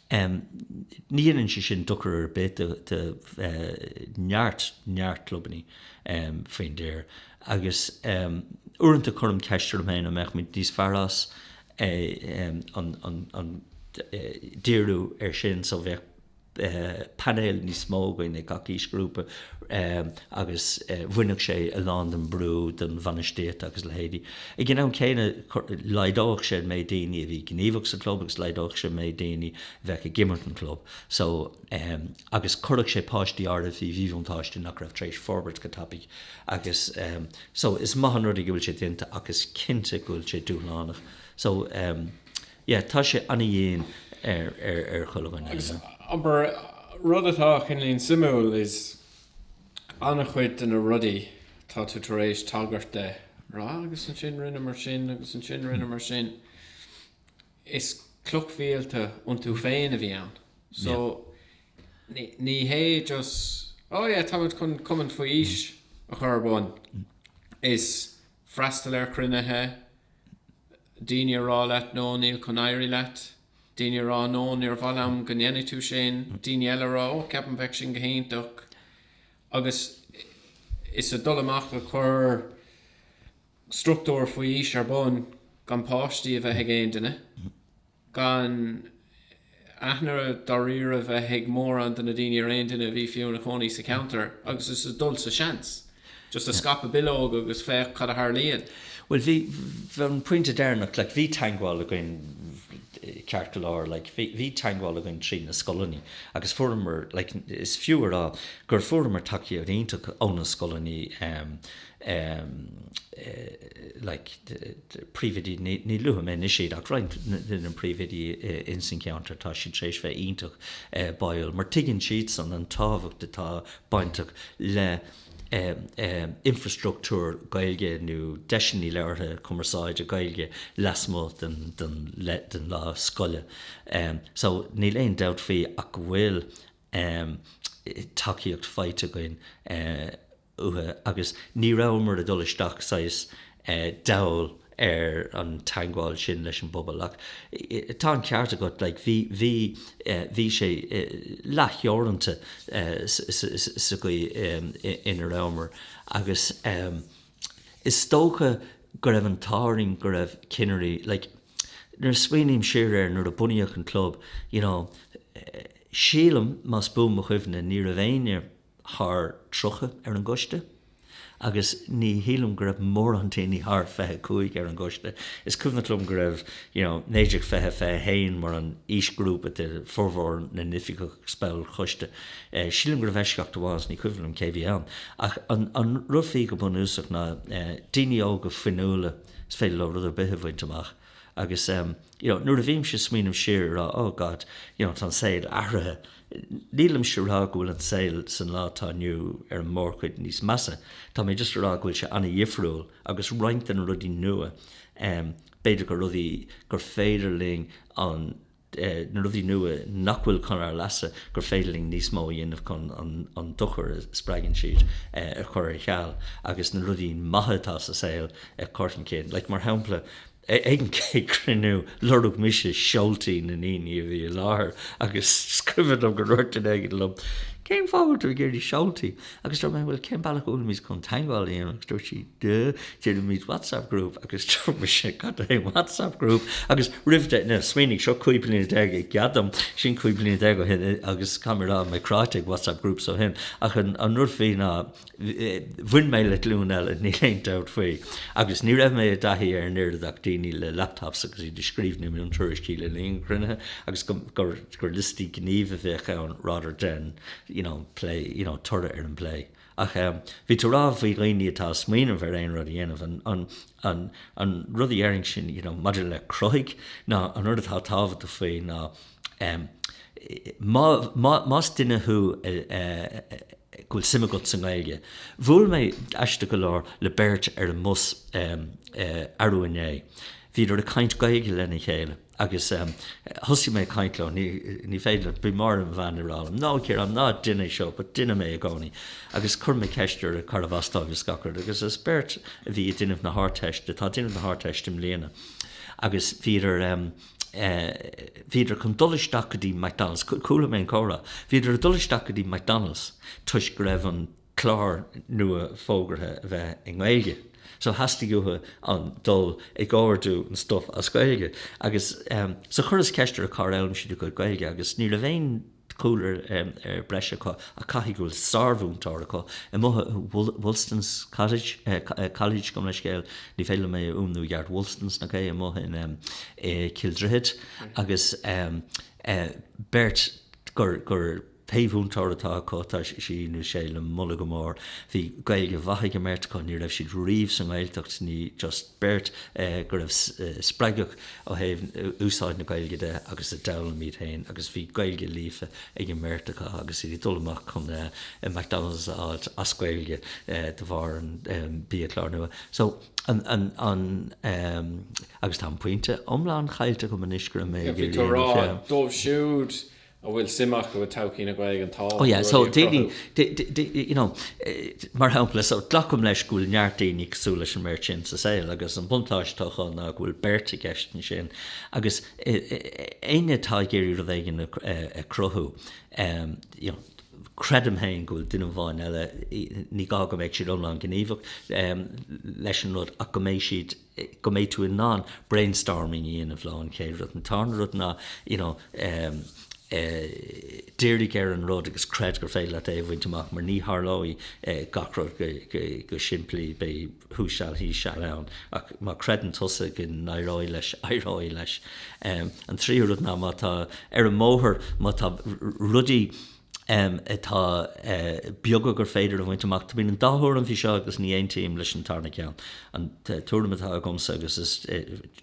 Ní dhéanann sé sin dochar ar bith do neart, neart clubanna faoin dtír agus uaireanta cuirim ceist orm féin an mbeadh muid níos fearr as an díriú air sin so bheadh painéal níos mó againn ag gach aoisghrúpa. agus bhainfeadh sé a lán den bhrú den bhainistíocht agus a leithéidí. Ag an am céanna, laghdódh sé an méid daoine a bhí gníomhach sa chlub agus laghdódh sé an méid daoine a bheadh ag imirt don chlub so agus chuirfeadh sé páistí áirid faoi mhíbhuntáiste nach raibh tar éis forbairt go tapaidh agus so is maith an rud é go bhfuil sé déanta ach is cinnte go bhfuil sé dúshlánach so yeah tá sé ana-dhian ar chuile dhuine. Agus, abair, rud atá cineálín suimiúil is. an-chuid de na rudaí atá tú tar éis tagairt dó, rá agus ansin rinneamar sin agus ansin rinneamar sin, is clochmhílte iontu féin a bhí ann. So ní hé just oh yeah tá muid chun cumann faoi aois a chur ar bun. Is freastal ar chruinnithe, daoine a rá leat no níl chun éirí leat, Daoine a rá, No, níor mhaith liom go ndéanfaidh tú sin. Daoine eile a rá, Ó, ceapaim bheadh sin go hiontach. Agus is ag dul amach ag cur struchtúir faoi aois ar bun gan páistí a bheith ag aon duine, gan aithne dáiríre bheith ag mórán de na daoine ar aon duine a bhí fiú ina chónaí sa cheantar, agus is ag dul sa seans. Just a scaipeadh bileog agus féach cad a tharlaíonn. Bhuel, bhí an pointe deireanach, like bhí teagmháil againn ceart go leor, like bhí teagmháil againn trí na scoileanna agus fuaireamar, like is fiú a rá gur fuaireamar tacaíocht iontach ó na scoileanna, like príomhoidí, ní luafaidh mé anois iad ach roinnt de na príomhoidí in san ceantar, tá siad tar éis bheith iontach báúil mar tuigeann siadsan an tábhacht atá bainteach le infreastruchtúr Gaeilge nó deiseanna labhartha, cumarsáide Gaeilge lasmuigh den lá scoile. So níl aon dabht faoi ach go bhfuil tacaíocht faighte againn uathu agus ní rabhamar ag dul isteach saghas dall ar an teangmháil sin leis an bpobal. Ach tá an ceart agat, like, bhí sé leath-theoranta sa gcaoi ina rabhamar agus is dócha go raibh an t-ádh orainn go raibh cinnirí, like, nuair a smaoiním siar air, nuair a bunaíodh an club, you know, sílim, más buan mo chuimhne, ní raibh éinne thar 30 ar an gcoiste, agus ní shílim go raibh mórán daoine thar 25 ar an gcoiste. Is cuimhneach liom go raibh, you know, 19, 20, 21 mar an aoisghrúpa de formhór na n-oifigeach is baill choiste. Sílim go raibh eisceacht amháin, is ní cuimhin liom cé a bhí ann. Ach an rud faoi go bunúsach ná daoine óga fuinniúla is féidir leo rud ar bith a bhaint amach. Agus, you know, nuair a bhímse ag smaoineamh siar ag rá, oh God, you know, tá an saol athraithe, nílimse ag rá go bhfuil an saol san lá atá inniu ar an mórchuid níos measa, tá mé just ag rá go bhfuil sé ana-dhifriúil agus roinnt de na rudaí nua, b'fhéidir gur rudaí gur féidir linn an. de na rudaí nua nach bhfuil chun ár leasa gur féidir linn níos mó a dhéanamh chun an dochar a spreagann siad a chur ar cheal agus na rudaí maithe atá sa saol a chur chun cinn. Like, mar shampla, ag an gcéad cruinniú, lorg mise seoltaí na ndaoine a bhí i láthair agus is cuimhin liom go ndúirt duine éigin liom, 'Cén fáth a bhfuil tú ag iarraidh seoltaí? Agus dúirt mé, Bhuel, cén bealach a bhfuil mise chun teagmháil a dhéanamh? Agus dúirt sí, Duh, déanaimis WhatsApp group. Agus dúirt mise, Cad é WhatsApp group? Agus roimh de, now, smaoinigh, seo cúig bliana déag goddamn, sin cúig bliana déag ó shin, agus caithfidh mé a rá, mé cráite ag WhatsApp groups ó shin. Ach an rud faoi ná, bhain mé le glúin eile, níl aon dabht faoi. Agus ní raibh mé i dtaithí ar an oiread ach daoine le laptops agus iad ag scríobh na miontuairiscí le linn an chruinnithe agus gur gur liostaí gníomh a bheadh ann rather than you know plé, you know toradh ar an bplé. Ach bhí tú a rá faoi dhaoine atá ag smaoineamh ar aon rud a dhéanamh, an an an rud a déarfainn ansin you know maidir le cruthaigh ná an rud atá tábhachtach faoi ná má má más duine thú a a go bhfuil suim agat sa nGaeilge, bhuail mé aisteach go leor le beirt ar an mbus arú inné, bhíodar ag caint Gaeilge lena chéile. Agus thosaigh mé ag caint leo, ní féidir, bhí Máire mo bhean ag rá liom, no Ciarán, ná dein é seo, but deinim é i gcónaí. Agus chuir mé ceist orthu cárbh as dóibh is gach rud, agus is beirt a bhí ag déanamh na hArdteiste, atá ag déanamh na hArdteiste i mbliana, agus bhíodar ehm, eh, bhíodar chun dul isteach go dtí McDonald's, chuala mé an comhrá, bhíodar ag dul isteach go dtí McDonald's toisc go raibh an, clár nua fógartha a bheith i nGaeilge so theastaigh uathu dul ag ordú an stuif as Gaeilge agus so chuireas ceist orthu cár fhoghlaim siad a gcuid Gaeilge agus ní raibh aon chúlra breise acu ach caithfidh go bhfuil sármhúinteoir acu i Wolstan's College gabhaim leithscéal ní féidir liom é a fhuaimniú i gceart Wolstan's nach é? amuigh in Cill Droichead agus beirt gur pé múinteoir atá acu, tá sí nó sé le moladh go mór. Bhí Gaeilge mhaith ag an mbeirt acu, ní raibh siad riamh sa nGaeltacht, ní just beirt go raibh spreagtha ó thaobh úsáid na Gaeilge de agus a d'fhoghlaim iad féin agus bhí Gaeilge líofa ag an mbeirt acu agus iad ag dul amach chun McDonald's a fháilt as Gaeilge de bharr an biachlár nua. So an agus tá an pointe iomlán caillte agam anois go raibh mé ag iarraidh a dhéanamh. Bhí go raibh dóibh siúd a bhfuil suim acu i todhchaí na Gaeilge an t-á, oh yeah, so daoine, you know, mar shampla, so glacaim leis go bhfuil neart daoine cosúil leis an mbeirt sin sa saol agus an buntáiste atá acu ná go bhfuil beirt i gceist ansin agus éinne atá ag iarraidh rud éigin a chruthú, creidim fhéin go bhfuil duine amháin eile, ní gá go mbeidh siad iomlán gníomhach leis an rud ach go mbeidh siad. go mbeidh tú in ann brainstorming a dhéanamh leo, an chéad rud. An tarna rud ná you know dírigh ar an rud agus creid gur féidir leat é a bhaint amach mar ní tharlóidh gach rud go simplí, beidh thuas seal, thíos seal ann ach má chreideann tusa go n-éireoidh leis, éireoidh leis. An tríú rud ná má tá ar an mbóthar, má tá rudaí. atá beaga gur féidir a bhaint amach. Tá, bíonn an dá thuairim faoi seo agus ní aontaím leis an tarna ceann. An tuairim atá agamsa agus is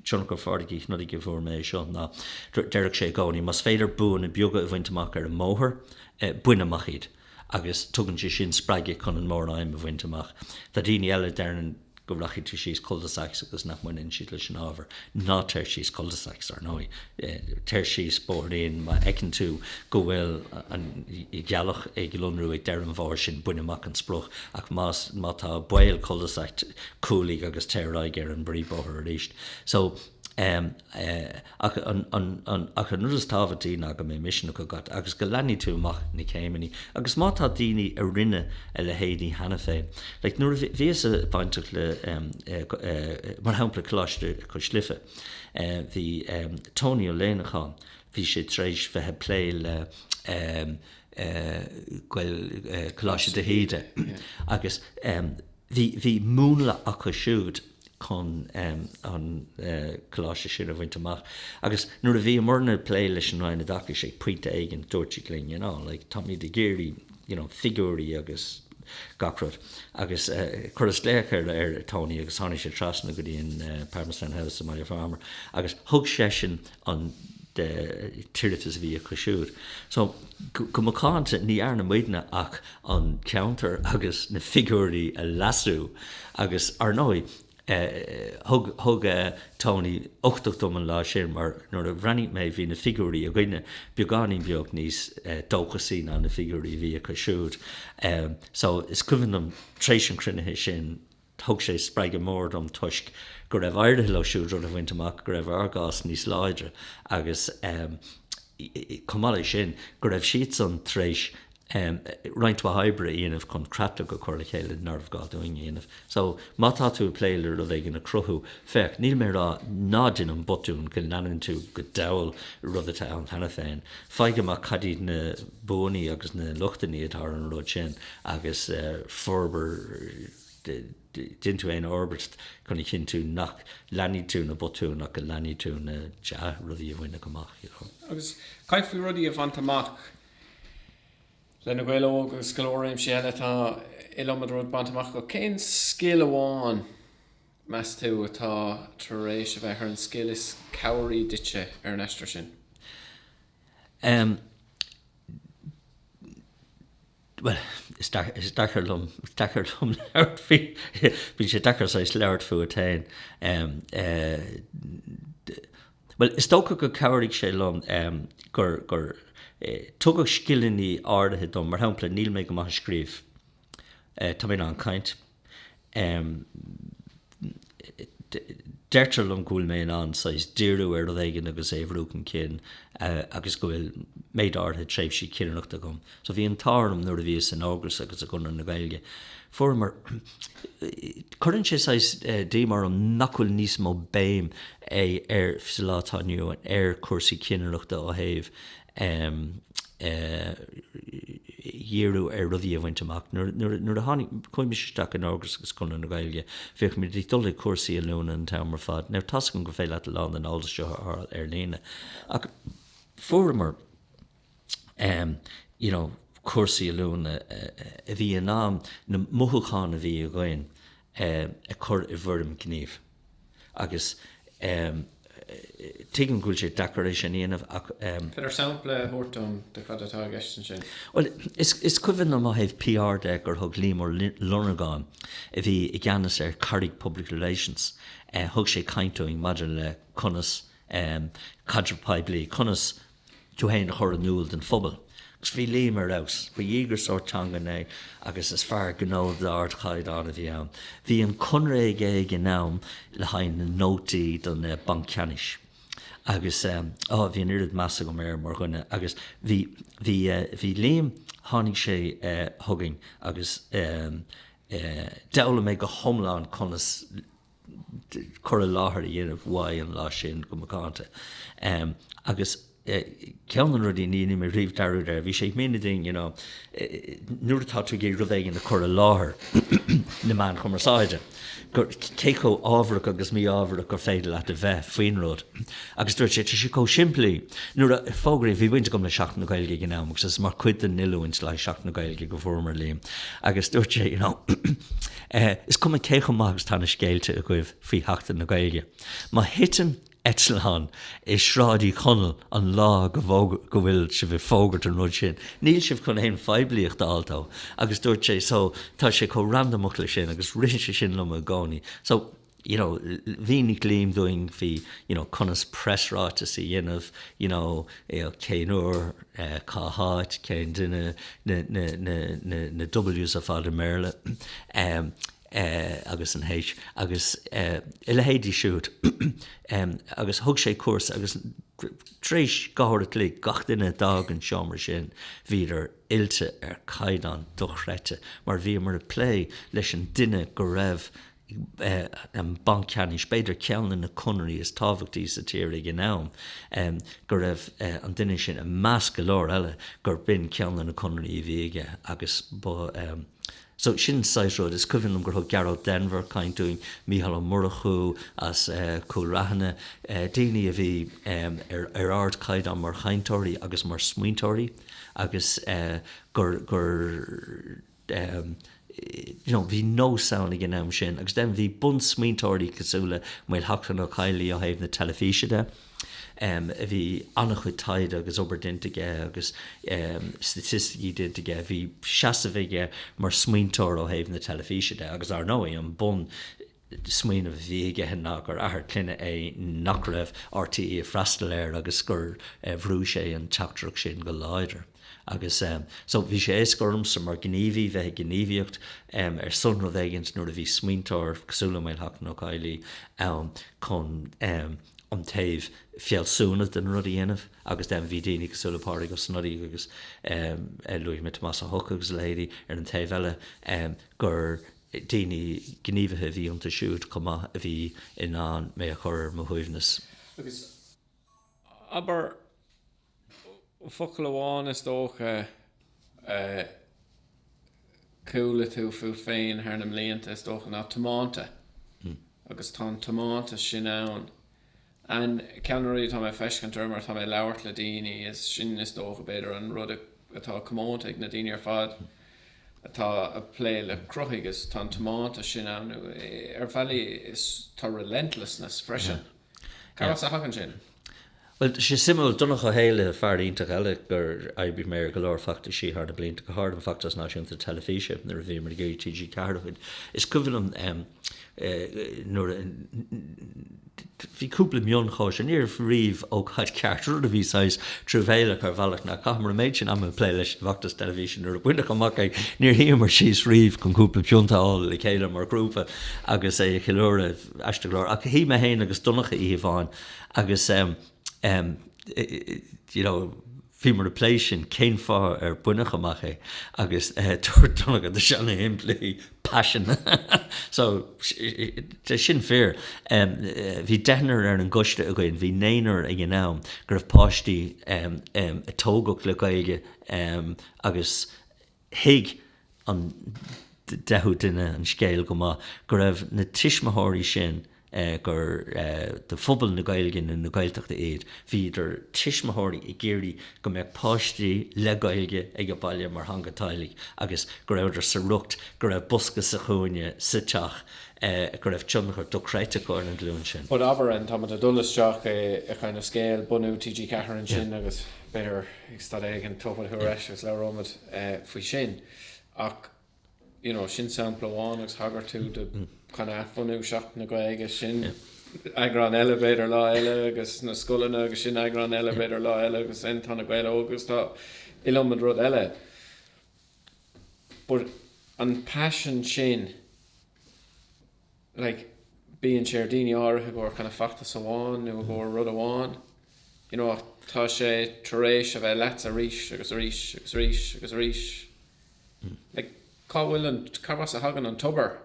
tionchar Phádraig Uí Shnodaigh go bhfuair mé é seo ná deireadh sé i gcónaí, más féidir buanna beaga a bhaint amach ar an mbóthar, bain amach iad agus tugann sé sin spreagadh chun an móraidhm a bhaint amach. Tá daoine eile a deireann. go rachaidh tú síos cul-de-sacs agus nach mbaineann siad leis an ábhar, ná téir síos cul-de-sacs, ar ndóigh, téir síos bóithrín má fheiceann tú go bhfuil an ghealach ag lonrú ag deireadh an bhóthair sin, bain amach an sprioc, ach más, má tá baol cul-de-sac, cúlaigh agus tabhair aghaidh ar an bpríomhbhóthar arís. So. Ach an rud is tábhachtaí ná go mbeidh misneach agat agus go leanfaidh tú amach na céimeanna. Agus má tá daoine a rinne a leithéidí cheana féin. Like nuair a bhíos-sa bainteach le mar shampla Coláiste Cois Life, bhí Tony Ó Leannacháin, bhí sé tar éis bheith ag plé le Coláiste de hÍde agus bhí múnla acu siúd. chun an coláiste sin a bhaint amach. Agus nuair a bhíomarna ag plé leis an Roinn Oideachais ag pointe éigin, dúirt siad linn, you know, like, táimid ag iarraidh, you know, figiúirí agus gach rud. Agus chuireas-sa glaoch ar Tony agus tháinig sé trasna go dtí an Palmerston House i mBaile Phámar agus thug seisean, an tuairisc a bhí acu siúd. So, go macánta, ní dhearna muidne ach an ceantar agus na figiúirí a leasú agus, ar ndóigh, thug Tony uchtach dom an lá sin mar nuair a bhreathnaigh mé bhí na figiúirí againne beagáinín beag níos dóchasaí ná na figiúirí a bhí acu siúd. So, is cuimhin liom, tar éis an chruinniú sin, Thug sé spreagadh mór dom toisc go raibh éirithe leo siúd rud a bhaint amach go raibh ár gcás níos láidre agus chomh maith leis sin go raibh siadsan tar éis roinnt mhaith oibre a dhéanamh chun creatlach a chur le chéile nárbh gá dúinn a dhéanamh. So, má tá tú ag plé le rud éigin a chruthú, féach, níl mé ag rá ná déan an botún go leanann tú go dall rud atá ann cheana féin. Faigh amach cad iad na buanna agus na lochtanna atá ar an rud sin agus forbair. déan tú aon fhorbairt chun a chinntiú nach leanfaidh tú na botúin ach go leanfaidh tú na dea-rudaí a baineadh amach, you know. Agus caithfidh rudaí a bhaint amach le Na Gaeil Óga agus go leor réimsí eile, tá iliomad rud bainte amach acu. Cén scil amháin, meas tú, atá tar éis a bheith ar an scil is cabhraí duitse ar an aistear sin? Em. Bhuel, is deacair, is deacair liom, is deacair liom labhairt faoi, bíonn sé deacair saghas labhairt fút féin. Bhuel, is dócha gur chabhraigh sé liom gur, gur, tugadh scileanna áirithe dom, mar shampla, níl mé go maith ag scríobh, tá mé in ann caint, Deirtear liom go bhfuil mé in ann saghas díriú ar rud éigin agus é a bhrú chun cinn agus go bhfuil méid áirithe tréimhsí cinnireachta agam. So bhí an t-ádh orm nuair a bhíos in Ógras agus i gConradh na Gaeilge. Fuaireamar, cuireann sé saghas díoma orm nach bhfuil níos mó béim ar, sa lá atá inniu ann, ar chúrsaí cinnireachta ó thaobh um díriú ar rudaí a bhaint amach. Nuair a tháinig, chuaigh mise isteach in Ógras agus Conradh na Gaeilge, bhíodh muid ag dul chuig cúrsaí oiliúna an t-am ar fad. Now tá's agam gur féidir leat a lán den eolas seo a fháil ar líne ach fuaireamar um you know cúrsaí oiliúna a bhí in ann na mothúcháin a bhí againn um a chur i bhfoirm gníomh. agus tuigim go bhfuil sé deacair é sin a dhéanamh ach. An féidir sampla a thabhairt dom de cad atá i gceist ansin? Bhuel, is cuimhin liom ó thaobh PR de gur thug Liam Ó Lonargáin, a bhí i gceannas ar Carraig Public Relations, thug sé caint dúinn maidir le conas caidreamh poiblí, conas tú fhéin a chur in iúl don phobal. Agus bhí Liam ar fheabhas. Ba dhíograiseoir teanga é agus is fear gnó d'ardchaighdeán a bhí ann. Bhí an conradh aige ag an am le haghaidh na nótaí don Bhanc Ceannais agus bhí an oiread measa agam air mar dhuine agus bhí, bhí, bhí Liam, tháinig sé chugainn agus d'fhoghlaim mé go hiomlán conas, cur i láthair a dhéanamh uaidh an lá sin go macánta. Agus ceann de na rudaí, ní dhéanfaidh mé riamh dearúd air, bhí sé ag míniú dúinn, you know, nuair atá tú ag iarraidh rud éigin a chur i láthair na meáin chumarsáide, gur cé chomh ámharach agus mí-ámharach gur féidir leat a bheith faoin rud. Agus dúirt sé, tá sé chomh simplí, nuair a fógraíodh, bhí baint agam le Seachtain na Gaeilge ag an am agus is mar chuid den oiliúint le haghaidh Seachtain na Gaeilge go bhfuaireamar Liam agus dúirt sé, you know, Is cuma cé chomh maith agus atá na scéalta agaibh faoi Sheachtain na Gaeilge, má thiteann eitleán i Sráid Uí Chonaill an lá go bhfuil sibh ag fógairt an rud sin, níl sibh chun aon phoiblíocht a fháil dó. Agus dúirt sé, So, tá sé chomh randamach leis sin agus rith sé sin liom i gcónaí. So. you know, mhínigh Liam dúinn bhí, you know, conas presráiteas a dhéanamh, you know, you know, cén uair, cá háit, cén duine, na, na, na, na, na W's ar fad i mBéarla, um, eh, agus an H, agus, eh, a leithéidí siúd, um, agus thug sé cúrsa agus tar éis dhá uair a chloig gach duine a d'fhág an seomra sin bhíodar oilte ar caighdeán dochreidte mar bhíomar ag plé leis an duine go raibh an Banc Ceannais, b'fhéidir, ceann de na conarthaí is tábhachtaí sa tír ag an am, go raibh an duine sin, i measc go leor eile, gur b'in ceann de na conarthaí a bhí aige agus ba So, sin an saghas rud, is cuimhin liom gur thug Gearóid Denvir caint dúinn, Mícheál Ó Murchú as Cúil Raithin, daoine a bhí ar ardchaighdeán mar chainteoirí agus mar smaointeoirí agus gur, you know Bhí nós ann ag an am sin agus then bhí bunsmaointeoirí cosúil le Maolsheachlainn Ó Caollaí ó thaobh na teilifíse de em bhí an-chuid taighde agus obair déanta aige agus em staitisticí déanta aige, bhí seasamh aige mar smaointeoir ó thaobh na teilifíse de agus, ar ndóigh, an bun smaoineamh a bhí aige ná gur athair clainne é nach raibh R.T.E. ag freastal air agus gur bhrúigh sé an teachtaireacht sin go láidir. Agus so, bhí sé éasca ormsa mar ghníomhaí bheith ag gníomhaíocht ar son rud éigint nuair a bhí smaointeoir cosúil le Maolsheachlainn Ó Caollaí ann chun an taobh fealsúnach den rud a dhéanamh agus then bhí daoine cosúil le Pádraig Ó Snodaigh agus luaigh mé Tomás Ó hEochaidh agus a leithéidí ar an taobh eile gur daoine, gníomhaithe a bhí iontu siúd chomh maith a bhí in ann mé a chur ar mo shuaimhneas. Agus abair focal amháin, is dócha, a chuala tú fút féin thar na mblianta, is dócha, ná 'tiomanta'. Agus tá an tiomantas sin ann And ceann de na rudaí atá mé ag feiscint, mar tá mé ag labhairt le daoine, is sin is dócha b'fhéidir an rud atá comónta ag na daoine ar fad atá a' plé le cruthaitheacht is tá an tiomantas sin ann nó ar bhealaí is tá relentlessness freisin. Cár as a thagann sin? Bhuel, tá sé suimiúil, Donncha Ó hÉalaithe, fear iontach eile gur oibrigh mé ar go leor feachtaisí thar na blianta, go háirithe an Feachtas Náisiúnta Teilifíse nuair a bhíomar ag iarraidh TG4 a bhaint. Is cuimhin liom nuair a, Bhí cúpla mionchóisir. Ní raibh riamh ócáid cheart rud a bhí saghas truamhéalach ar bhealach ná chaitheamar an méid sin ama ag plé leis an bhfeachtas teilifíse nuair a baineadh amach é. Níor shuíomar síos riamh chun cúpla pionta a fháil le chéile mar ghrúpa agus é a cheiliúradh, aisteach go leor, ach shuigh mé féin agus Donncha oíche amháin agus, you know, Bhíomar ag plé sin, cén fáth ar baineadh amach é, agus dúirt Donncha tá sé ana-shimplí, Paisean. So, sin fíor. Bhí deichniúr ar an gcoiste againn, bhí naonúr ag an am, go raibh páistí a tógadh le Gaeilge agus Thuig an deichiú duine an scéal go maith, go raibh na tuismitheoirí sin gur de phobal na Gaeilge nó na Gaeltachta iad, bhí idir tuismitheoirí, ag iarraidh go mbeadh páistí le Gaeilge ag a baile mar theanga teaghlaigh agus go rabhadar sa riocht go raibh bosca sa chúinne sa teach go raibh tionchar dochreidte aige ar an ghlúin sin. But abair, an táimid ag dul isteach i kind of scéal bunú TG4 ansin agus. B'fhéidir ag staid éigin dtabharfaidh tú ar ais agus labhróimid faoi sin. Ach you know sin sampla amháin agus thagair tú do chun athbhunú seachtain na Gaeilge sin eagrán eile b'fhéidir lá eile agus na scoileanna agus sin eagrán eile b'fhéidir lá eile agus sin tá Na Gaeil Óga agus tá iliomad rud eile. But an paisean sin like, bíonn sé ar daoine áirithe i gcomhair kind of feachtas amháin nó i gcomhair rud amháin, you know, ach tá sé tar éis a bheith leatsa arís agus arís agus arís agus arís. Like, cá bhfuil an, cá has a thagann an tobar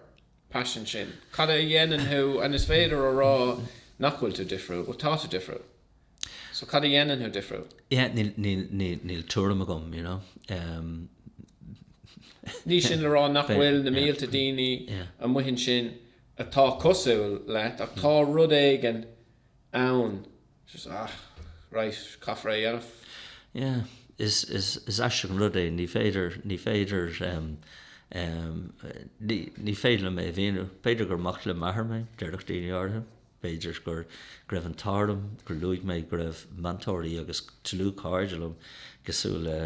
paisin sin? Cad é a dhéanann thú and is féidir a rá nach bhfuil tú difriúil, bhuel tá tú difriúil. So cad a dhéanann thú difriúil? Yeah, níl, níl, níl, níl tuairim agam, you know. Umm. Ní sin le rá nach bhfuil na mílte daoine amuigh ansin atá cosúil leat ach tá rud éigin ann just ah, right, caithfear é a dhéanamh. Yeah, is, is, is aisteach an rud é, ní féidir, ní féidir, umm, umm, ní, ní féidir liom é a mhíniú. B'fhéidir gur mac le m'athair mé, déarfadh daoine áirithe. B'fhéidir go raibh an t-ádh orm gur luaigh mé go raibh meantóirí agus dlúthchairde liom cosúil le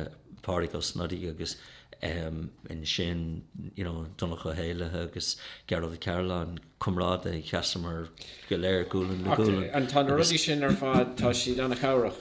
Pádraig Ó Snodaigh agus ansin you know Donnchadh Ó hÉallaithe agus Gearóid Ó Cairealláin, comrádaithe, sheasamar go léir gualainn le gualainn. Tá na rudaí sin ar fad, tá siad an-chabhrach.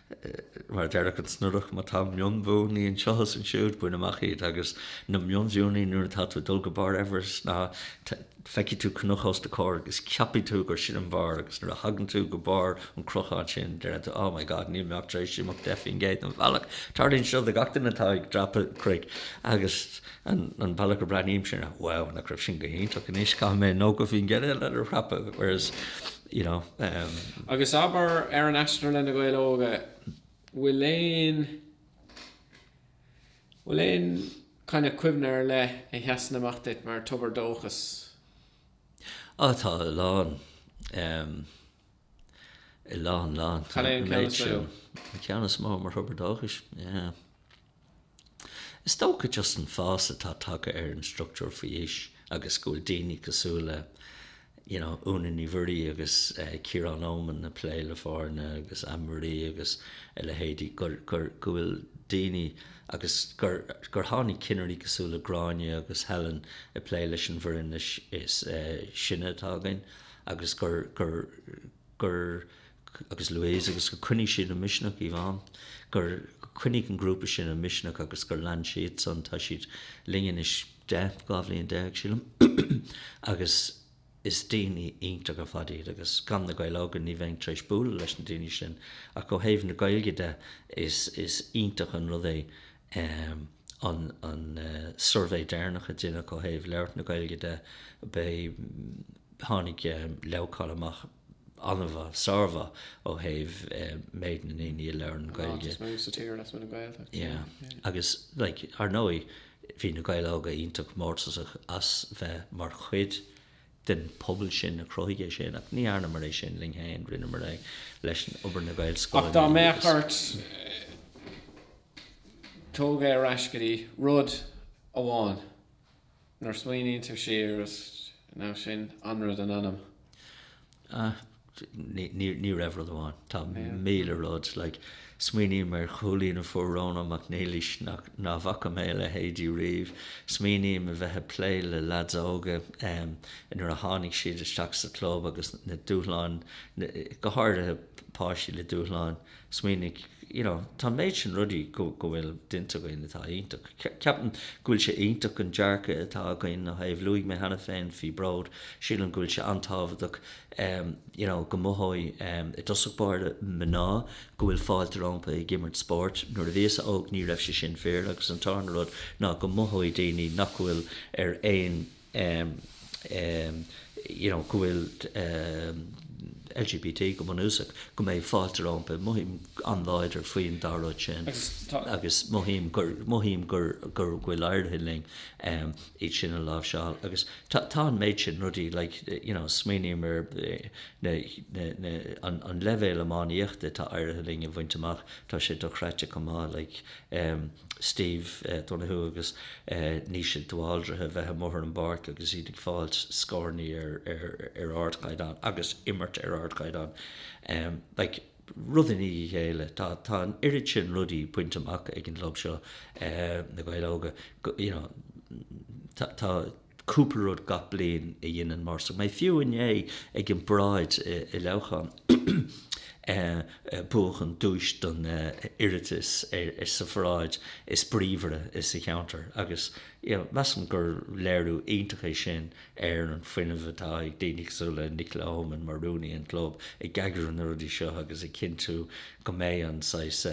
mar a déarfadh an Snodach, má tá mionbhuanna anseo is ansiúd, bain amach iad, agus na mionbhuanna, nuair atá tú ag dul go barr Everest, ná feicfidh tú cnoc os do chomhair agus ceapfaidh tú gur sin an barr, agus nuair a thagann tú go barr an cnocáin sin, déarfaidh tú, oh my God, níl mé ach tar éis imeacht deich faoin gcéad den bhealach. Tarlaíonn seo do gach duine atá ag dreapadh cnoic, agus an bealach a mbreathnaímse, wow, nach raibh sin go hiontach, anois caithfidh mé nócha faoin gcéad eile a dhreapadh, whereas, you know. Agus abair, ar an aistear le Na Gaeil Óga, bhfuil aon, bhfuil aon kind of cuimhne ar leith a sheasann amach duit mar tobar dóchais? Á, tá a lán. A lán, lán. Cad é an ceann is mó? An ceann is mó mar thobar dóchais? Yeah. Is dócha just an fás atá tagtha ar an structúr faoi aois agus go bhfuil daoine cosúil le you know, Úna Ní Mhuirí agus eh, Ciarán Éamonn ag plé le foirne agus Anne Marie agus a leithéidí gur, gur, go bhfuil daoine agus gur, gur tháinig cinnirí cosúil le Gráinne agus Helen ag plé leis an bhfoireann is, is eh, sine atá againn agus gur, gur gur, agus Louise, agus gur choinnigh siad an misneach, Yvonne, gur choinnigh an grúpa sin an misneach agus gur lean siadsan, tá siad linn anois deich, dhá bhliain déag, sílim, agus is daoine iontach ar fad iad agus gan na Gaeil Óga ní bheinn tar éis bualadh leis na daoine sin ach ó thaobh na Gaeilge de is iontach an rud é Um an an suirbhé deireanach a deineadh ó thaobh labhairt na Gaeilge de, eh, tháinig Leamhcán amach an-mhaith, sármhaith ó thaobh méid na ndaoine a labhair Gaeilge. Yeah. Agus like, ar ndóigh bhí na Gaeil óga iontach mórtasach as bheith mar chuid den phobal sin a chruthaigh é sin ach ní dhearnamar é sin linn féin, rinneamar é leis an obair na Gaelscolaíochta agus. Ach dá mbeadh ort. Tógáil ar ais go dtí rud amháin nuair a smaoiníonn tú siar, nó sin an rud, an t-ainm. Ah, ní raibh rud amháin, tá míle rud, smaoiním ar chúilín a fuair Rónán Mac Niallais nach bhfaca mé a leithéid riamh, smaoiním a bheith ag plé le leaids óga nuair a tháinig siad isteach sa chlub agus na dúshláin, go háirithe páistí le dúshláin. smaoinigh, you know, tá an méid sin rudaí go bhfuil déanta againn atá iontach. Ceapaim go bhfuil sé iontach an dearcadh atá againn ó thaobh, luaigh mé cheana féin faoi Bhród, sílim go bhfuil sé an-tábhachtach, em, you know, go mothóidh, em, i dtosach báire mná go bhfuil fáilte rompu ag imirt spóirt. Nuair a bhíosa óg ní raibh sé sin fíor agus an tarna rud ná go mothóidh daoine nach bhfuil ar aon, you know, go bhfuil LGBT go bunúsach, go mbeidh fáilte rompu. Mothaím an-láidir faoin dá rud sin agus mothaím gur, mothaím gur, gur, go bhfuil éirithe linn iad sin a láimhseáil. Agus tá, tá an méid sin rudaí, like, you know, smaoiním ar na, na, na, an, an leibhéal iománaíochta atá éirithe linn a bhaint amach, tá sé dochreidte chomh maith, like, Steve Donohue agus Naoise de Bhaldraithe a bheith amuigh ar an bpáirc agus iad ag fáilt scórannaí ar ardchaighdeán agus ag imirt ar ardchaighdeán. Like, rud i ndiaidh a chéile, tá, tá an oiread sin rudaí bainte amach ag an gclub seo, Na Gaeil Óga, go, you know, tá, tá, cúpla rud gach bliain a dhéanann mórtasach mé. Fiú inné ag an bParáid i Leamhcán buachan duais don iarratas sa pharáid is bríomhaire sa cheantar agus measaim gur léiriú iontach é sin ar an fuinneamh atá ag daoine cosúil le Nicola Oman mar rúnaí an chlub ag eagrú na rudaí seo agus ag cinntiú go mbeidh an saghas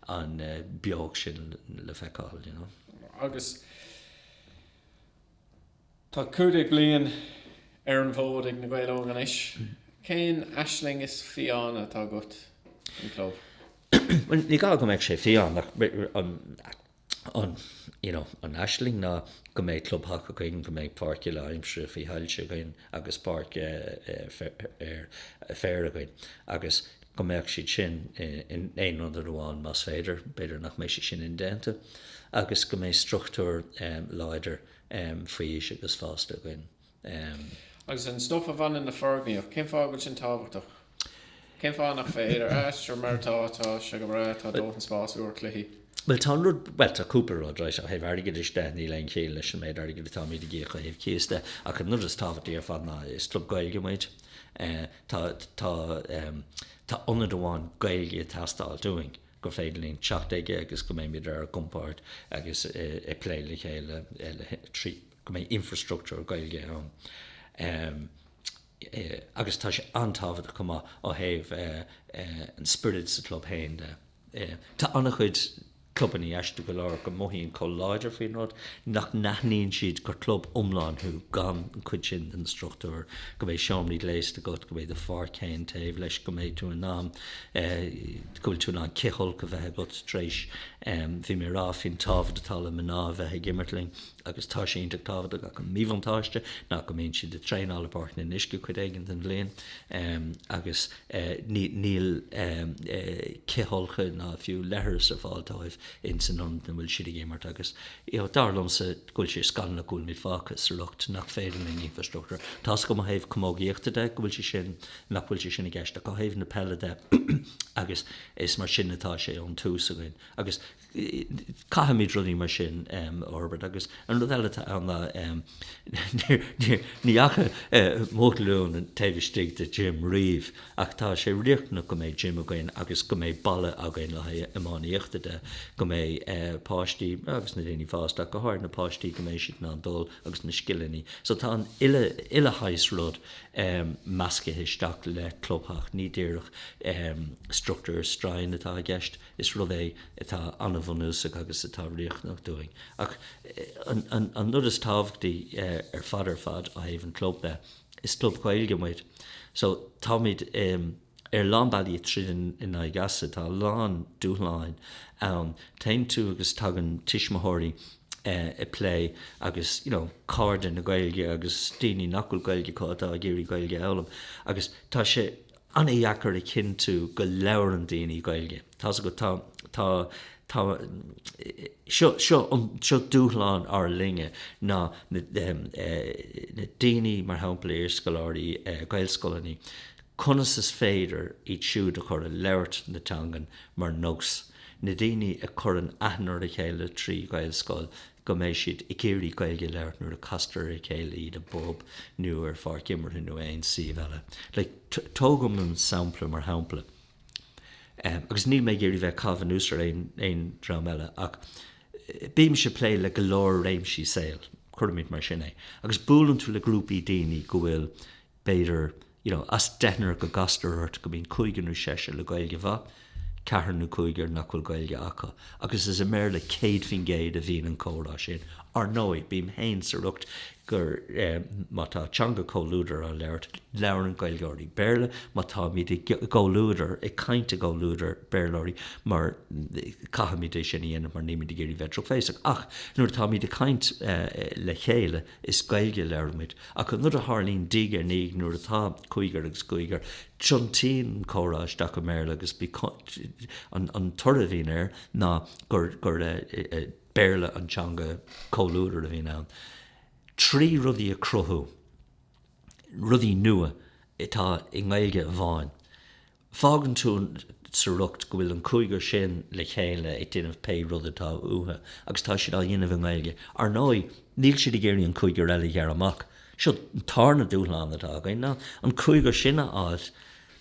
an beocht sin le feiceáil. Agus. Tá cúig déag bliain ar an bhfód ag Na Gaeil Óga anois. Cén aisling is fiáine atá agat don chlub? Bhuel, ní gá go mbeadh sé fiáin ach an, you know, an aisling ná go mbeidh clubtheach againn, go mbeidh páirc uile-aimsire faoi shoilse againn, agus páirc ar féar againn agus go mbeadh siad sin in aon ionad amháin más féidir, b'fhéidir nach mbeidh sé sin indéanta, agus go mbeidh struchtúr láidir faoi aois agus fásta againn. Agus an stuif a bhaineann le foirgníocht, cén fáth a bhfuil sin tábhachtach? Cén fáth nach féidir? A Esther, mar atá, tá sé go breá, tá dóthain spás úr cluichí. Bhuel tá an rud, bhuel tá cúpla rud right ó thaobh airgeadais de, níl aon chiall leis an méid airgid atáimid ag íoc ó thaobh cíos de ach an rud is tábhachtaí ar fad ná is club Gaeilge muid, tá ionad amháin Gaeilge ag teastáil dúinn gur féidir linn teacht chuige agus go mbeimid ar ár gcompord agus ag plé le chéile trí go mbeidh infreastruchtúr Gaeilge ann. agus tá sé an-tábhachtach chomh maith ó thaobh an spioraid sa chlub féin de. Tá an-chuid clubannaí, aisteach go leor go mothaíonn chomh láidir faoin rud nach n-aithníonn siad gur club iomlán thú gan an chuid sin den struchtúr, go mbeidh seomraí gléasta agat, go mbeidh do pháirc féin taobh leis, go mbeidh tú in ann, go bhfuil tú in ann cithfholcadh a bheith agat tar éis, bhí mé a rá faoin tábhacht atá le mná a bheith ag imirt linn, agus tá sé iontach tábhachtach acu míbhuntáiste ná go mbíonn siad ag traenáil i bPáirc an Fhionnuisce cuid éigin den bhliain agus níl cithfholcadh ná fiú leithreas ar fáil dóibh ins an ionad ina bhfuil siad ag imirt agus dar liomsa go bhfuil sé scannalach go bhfuil muid fágtha sa riocht nach féidir linn infreastruchtúr tá a fhios agam ó thaobh camógaíochta de go bhfuil sé sin nach bhfuil sé sin i gceist ach ó thaobh na peile de agus is mar sin atá sé ón tús againn agus Caithfimid rudaí mar sin a fhorbairt agus an rud eile atá ann ná ní fhaca mo ghlúin taobh istigh de gym riamh ach tá sé riachtanach go mbeidh gym againn agus go mbeidh balla againn le haghaidh iománaíochta de, go mbeidh páistí agus na daoine fásta ach go háirithe na páistí go mbeidh siad in ann dul agus na scileanna. So tá an uile shaghas rud meascaithe isteach le clubtheach, ní díreach struchtúr stroighin atá i gceist. Is rud é atá an-bhunúsach agus atá riachtanach dúinn. Ach an rud is tábhachtaí ar fad ar fad ó thaobh an chlub de, is club Gaeilge muid. So táimid ar lán bealaí ag triall in aghaidh easa. Tá a lán dúshláin ann. Téann tú agus tagann tuismitheoirí ag plé agus you know cairde na Gaeilge agus daoine nach bhfuil Gaeilge acu atá ag iarraidh Gaeilge a fhoghlaim agus tá sé an-deacair a chinntiú go labhrann daoine Gaeilge. Tá's agat, tá, tá, tá, seo, seo an, seo dúshlán ár linne ná na, na daoine, mar shampla, iarscoláirí Gaelscoileanna, conas is féidir iad siúd a chur ag labhairt na teangan mar nós, na daoine a chuireann aithne ar a chéile trí Ghaelscoil, go mbeidh siad ag iarraidh Gaeilge a labhairt nuair a castar ar a chéile iad i bpub nó ar pháirc imeartha nó aon suíomh eile. Like, tógaim an sampla mar shampla agus níl mé ag iarraidh bheith caitheamh anuas ar aon aon dream eile ach bímse ag plé le go leor réimsí saoil, cuirimid mar sin é, agus buaileann tú le grúpaí daoine go bhfuil b'fhéidir, you know, as deichniúr go gcastar ort go mbíonn cúigear nó seisear le Gaeilge mhaith, ceathrar nó cúigear nach bhfuil Gaeilge acu, agus is i mBéarla 100% a bhíonn an comhrá sin. Ar ndóigh, bím féin sa riocht gur, eh, má tá teanga comhluadair á labhairt, labhrann Gaeilgeoirí Béarla, má táimid i gcomhluadar, ag caint i gcomhluadar Béarlóirí, mar, caithfimid é sin a dhéanamh mar nílimid ag iarraidh bheith drochbhéasach, ach nuair atáimid ag caint, eh, le chéile, Is Gaeilge a labhraímid. Ach an rud a tharlaíonn, dtuigeann tú, ar ndóigh nuair atá cúigear agus cúigear, tiontaíonn an comhrá isteach i mBéarla agus an toradh a bhíonn air ná gur Béarla an teanga comhluadair a bhíonn ann. Trí rudaí a chruthú, rudaí nua atá i nGaeilge amháin, Fágann tú sa riocht go bhfuil an cúigear sin le chéile ag déanamh pé rud atá uathu agus tá siad á dhéanamh i nGaeilge. Ar ndóigh, níl siad ag iarraidh an cúigear eile a ghearradh amach. Seo an tarna dúshlán atá againn ná an cúigear sin a fháil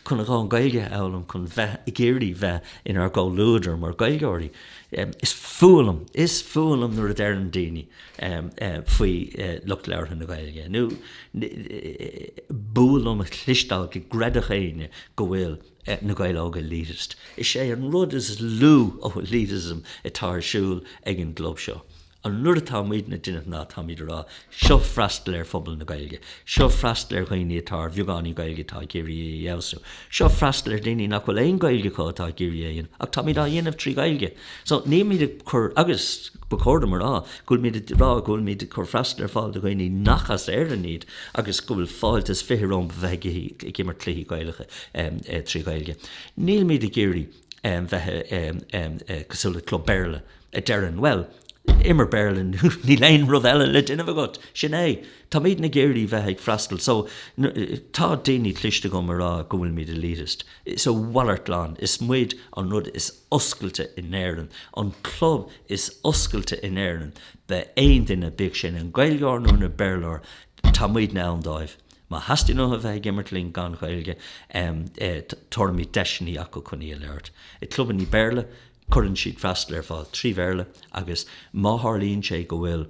chun an Ghaeilge a fhoghlaim, chun bheith ag iarraidh bheith inár gcomhluadar mar Ghaeilgeoirí. Is fuath liom, is fuath liom nuair a deireann daoine. faoi lucht labhartha na Gaeilge, nó b'fhuath liom a chloisteáil go gcreidfeadh éinne go bhfuil na Gaeil Óga elitist. Is é an rud is lú ó elitism atá ar siúl ag an gclub seo an rud atá muidne ag déanamh ná táimid ag rá, seo freastal ar phobal na Gaeilge, seo freastal ar dhaoine atá ar bheagáinín Gaeilge atá ag iarraidh í a fheabhsú, seo freastal ar dhaoine nach bhfuil aon Gaeilge acu atá ag iarraidh í a dhéanamh ach táimid á dhéanamh trí Ghaeilge. So, nílimid ag cur, agus ba chóir dom a rá, go bhfuilimid ag rá go bhfuilimid ag cur freastal ar fáil do dhaoine nach as Éirinn iad agus go bhfuil fáilte is fiche rompu a bheith ag imirt cluichí Gaelacha trí Ghaeilge. Nílimid ag iarraidh bheith cosúil le club Béarla a deireann, bhuel, i mBéarla nó níl aon rud eile le déanamh agat, sin é. Táimid ag iarraidh bheith ag freastal, so, tá daoine cliste ag rá go bhfuilimid elitist. So a mhalairt glan, is muid an rud is. oscailte in Éirinn, an club is oscailte in Éirinn, mar aon duine, bíodh sé ina Gaeilgeoir nó ina Béarlóir, tá muidne ann dóibh. Má theastaíonn uathu a bheith ag imirt linn gan Ghaeilge, tabharfaimid deiseannaí acu chun í a labhairt. I gclubannaí Béarla, cuireann siad freastal ar fáil trí Bhéarla agus má tharlaíonn sé go bhfuil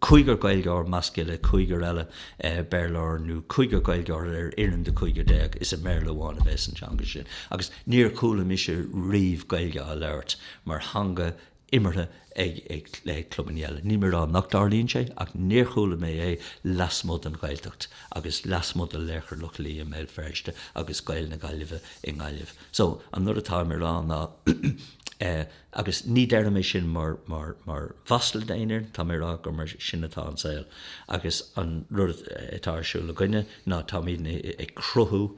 cúigear Gaeilgeoir i measc cúigear eile Béarlóir nó cúigear Gaeilgeoir ar fhoireann de chúigear déag, is i mBéarla amháin a bheas an teanga sin agus níor chuala mise riamh Gaeilge á labhairt mar theanga imeartha ag clubanna eile. Níl mé ag rá nach dtarlaíonn sé ach níor chuala mé é lasmuigh den Ghaeltacht agus lasmuigh de Laochra Loch Lao i mBéal Feirste agus Gaeil na Gaillimhe i nGaillimh. So, an rud atá mé ag rá ná, Agus ní deirim é sin mar mhasla d'aon fhear, tá mé ag rá gur mar sin atá an saol agus an rud atá ar siúl againne ná táimid ag cruthú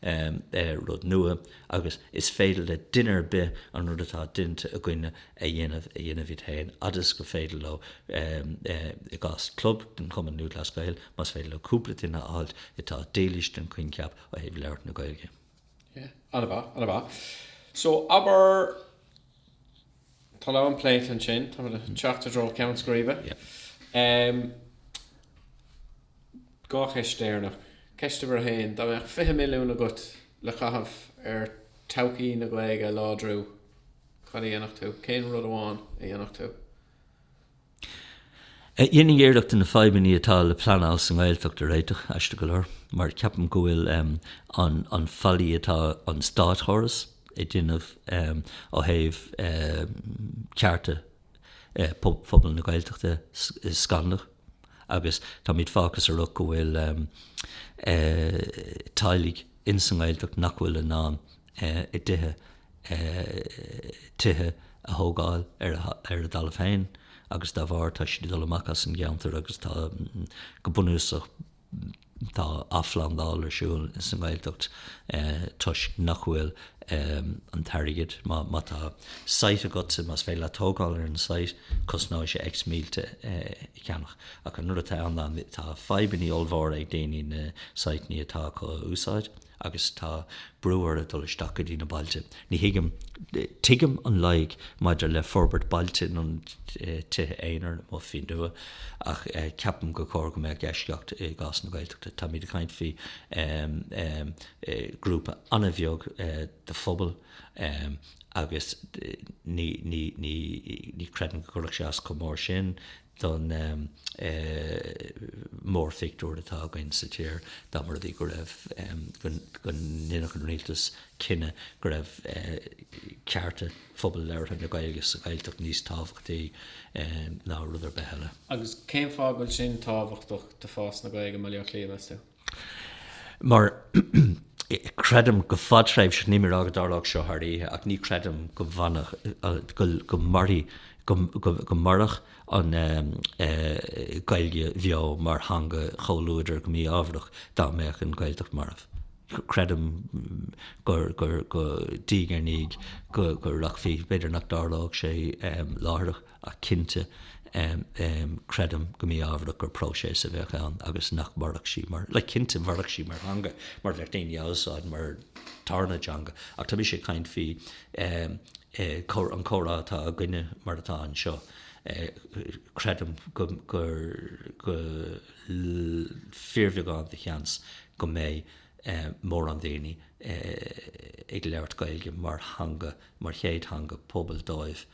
rud nua agus is féidir le duine ar bith an rud atá déanta againne a dhéanamh, a dhéanamh iad féin fhad is gur féidir leo. I gcás club den Chumann Lúthchleas Gael, más féidir leo cúpla duine a fháilt atá dílis don choincheap ó thaobh labhairt na Gaeilge, Anamá. So, abair, tá a lán pléite ansin, tá muid ag teacht i dtreo ceann scríbe. Dhá cheist deireanach. Ceist uimhir a haon, dá mbeadh 20 milliún agat le caitheamh ar todhchaí na Gaeilge a láidriú, cad a dhéanfadh tú? Cén rud amháin a dhéanfadh tú? Dhéanfainn iarracht na fadhbannaí atá le pleanáil sa nGaeltacht a réiteach, aisteach go leor, mar ceapaim go bhfuil an faillí atá an státchóras a dhéanamh ó thaobh cearta phobal na Gaeltachta scannalach agus táimid fágtha sa riocht go bhfuil teaghlaigh ins an nGaeltacht nach bhfuil in ann i dtithe, tithe a thógáil ar a dtalamh féin agus dá bharr tá siad ag dul amach as an gceantar agus tá, go bunúsach, tá athphlandáil ar siúl sa nGaeltacht toisc nach bhfuil an t-airgead, má tá site agatsa, más féidir leat tógáil ar an site, cosnóidh sé X mílte é a cheannach. Ach an rud atá ann ná tá fadhbannaí ollmhóra ag daoine na siteannaí atá acu a úsáid. agus tá brú orthu dul isteach go dtí na bailte. Ní thuigim, tuigim an loighic maidir le forbairt bailte, na tithe aonair nó más féin nua, ach ceapaim gur chóir go mbeadh eisceacht i gcás na Gaeltachta. Táimid ag caint faoi ghrúpa an-bheag de phobal agus ní chreidim go gcuirfeadh sé as chomh mór sin. don mhórphictiúr atá againn sa tír dá mba rud í go raibh, go ndéanfadh an rialtas cinneadh go raibh cearta phobal labhartha na Gaeilge sa Ghaeltacht níos tábhachtaí ná rud ar bith eile. Agus cén fáth go bhfuil sin tábhachtach d'fhás na Gaeilge i mBaile Átha Cliath, meas tú? mar creidim go fadtréimhseach, níl mé ag rá go dtarlódh seo thar oíche, ach ní chreidim go bhfanfadh, go mairfidh, go mairfeadh an Ghaeilge bheo mar theanga chomhluadair go mí-ámharach dá mbeadh an Ghaeltacht marbh. Creidim go, diaidh ar ndiaidh, go rachfaí, b'fhéidir nach dtarlódh sé láithreach, Ach cinnte, creidim go mí-ámharach gur próiseas a bheadh ann agus nach mairfeadh sí mar, cinnte, mhairfeadh sí mar theanga mar bheadh daoine á usáid mar tarna teanga ach tá mise ag caint faoi an comhrá atá againne mar atá anseo. Creidim gur fíorbheagán de sheans go mbeidh mórán daoine ag labhairt Gaeilge mar theanga, mar chéad theanga pobail dóibh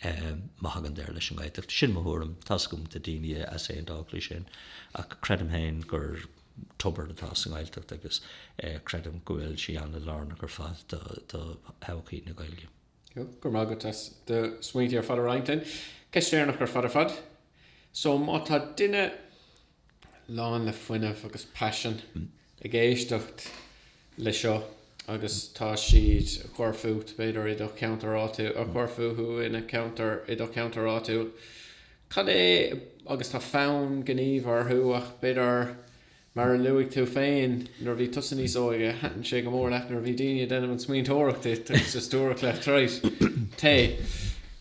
Má thagann deireadh leis an nGaeltacht, sin mo thuairim, tá a fhios agam go bhfuil daoine ag easaontú, b'fhéidir, leis sin, ach creidim féin gur tobar atá sa nGaeltacht agus creidim go bhfuil sí an-lárnach ar fad do thodhchaí na Gaeilge. Go raibh maith agat as do smaointe ar fad a roinnt linn. Ceist dheireanach ar fad ar fad. So má tá duine lán le fuinneamh agus paisean, ag éisteacht le seo agus tá siad ag cur fút, b'fhéidir, i do cheantar áitiúil, ag cur fúthu ina cheantar, i do cheantar áitiúil. Cad é, agus tá fonn gnímh orthu ach b'fhéidir, mar a luaigh tú féin, nuair a bhí tusa níos óige, thaitin sé go mór leat nuair a bhí daoine ag déanamh an smaointeoireacht duit agus ag stiúradh le treoir? Té.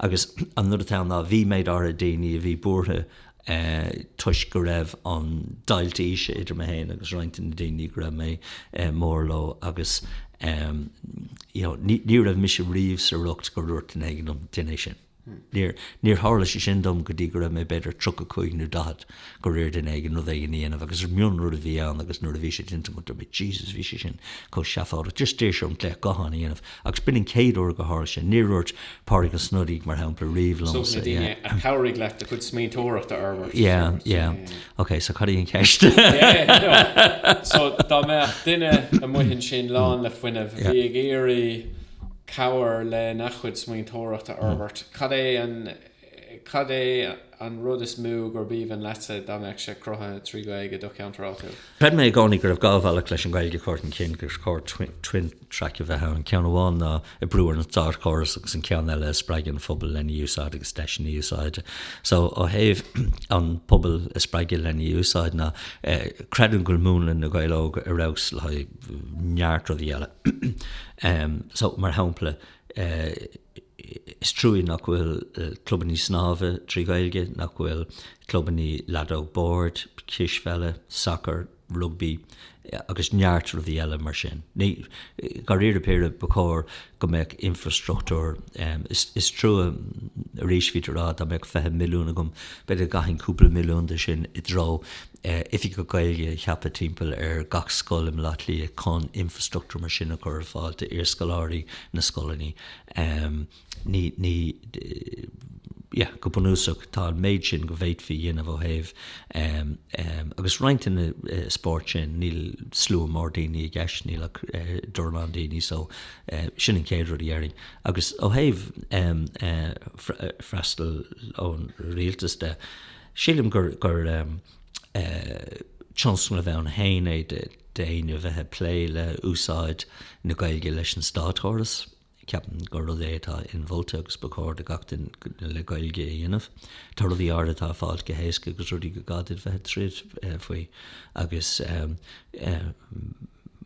Agus an rud atá ann ná bhí méid áirithe daoine a bhí buartha toisc go raibh an deighilt aoise idir mé féin agus roinnt de na daoine go raibh mé mór leo agus you know ní raibh mise riamh sa riocht gur dhúirt duine éigin liom déan é sin. Níor tharla sé sin dom go dtí go raibh mé b'fhéidir tríocha cúig nó daichead. go raibh ar dhuine éigin rud éigin a dhéanamh agus mionrud a bhí ann agus nuair a bhí sé déanta agat bhí tú Jesus bhí sé sin chomh seafóideach just déan an glaoch gutháin a dhéanamh agus b'in an chéad uair go háirithe sin níor dhúirt Pádraig Ó Snodaigh mar shampla riamh liom so yeah yeah yeah ok so cad é an cheist? so dá mbeadh duine amuigh ansin lán le fuinneamh a bhí ag iarraidh cabhair le na chuid smaointeoireachta a fhorbairt cad é an Cad é an rud is mó gurb aoibhinn leatsa dá mbeadh sé cruthaithe trí Ghaeilge i do cheantar áitiúil? Chreid mé i gcónaí go raibh dhá bhealach leis an Ghaeilge a chur chun cinn, gur chóir twin track a bheith ann, ceann amháin ná an brú ar an státchóras agus an ceann eile ag spreagadh an phobail lena úsáid agus deiseanna úsáide. So ó thaobh an pobal a spreagadh lena úsáid ná creidim go bhfuil múnla Na Gaeil Óga ar fheabhas le haghaidh neart rudaí eile. So mar shampla, Is trua nach bhfuil clubannaí snámha trí Ghaeilge, nach bhfuil clubannaí leadóg boird, cispheile, sacair, rugbaí agus neart rudaí eile mar sin. Dháiríre píre, ba chóir go mbeadh infrastruchtúr. Is trua arís, bhítear á rá, dá mbeadh 20 milliún agam, b'fhéidir go gcaithfinn cúpla milliún de sin i dtreo oifigigh Gaeilge a cheapadh timpeall ar gach scoil i mBleá Cliath chun infrastruchtúr mar sin a chur ar fáil d'iarscoláirí na scoileanna. Go bunúsach, tá an méid sin go bhféadfaí a dhéanamh ó thaobh, agus roinnt de na spóirt sin, níl slua mór daoine i gceist, níl ach dornán daoine so sin an chéad rud a dhéarfainn. Agus ó thaobh freastal ón rialtas de, sílim gur, tionscnamh ann féin é d'éinne a bheith ag plé le h-úsáid na Gaeilge leis an státchóras. Ceapaim gur rud é atá inmholta agus ba chóir do gach duine le Gaeilge a dhéanamh. Tá rudaí áirid atá ag fáilt go héasca agus rudaí gur gá duit bheith ag troid faoi agus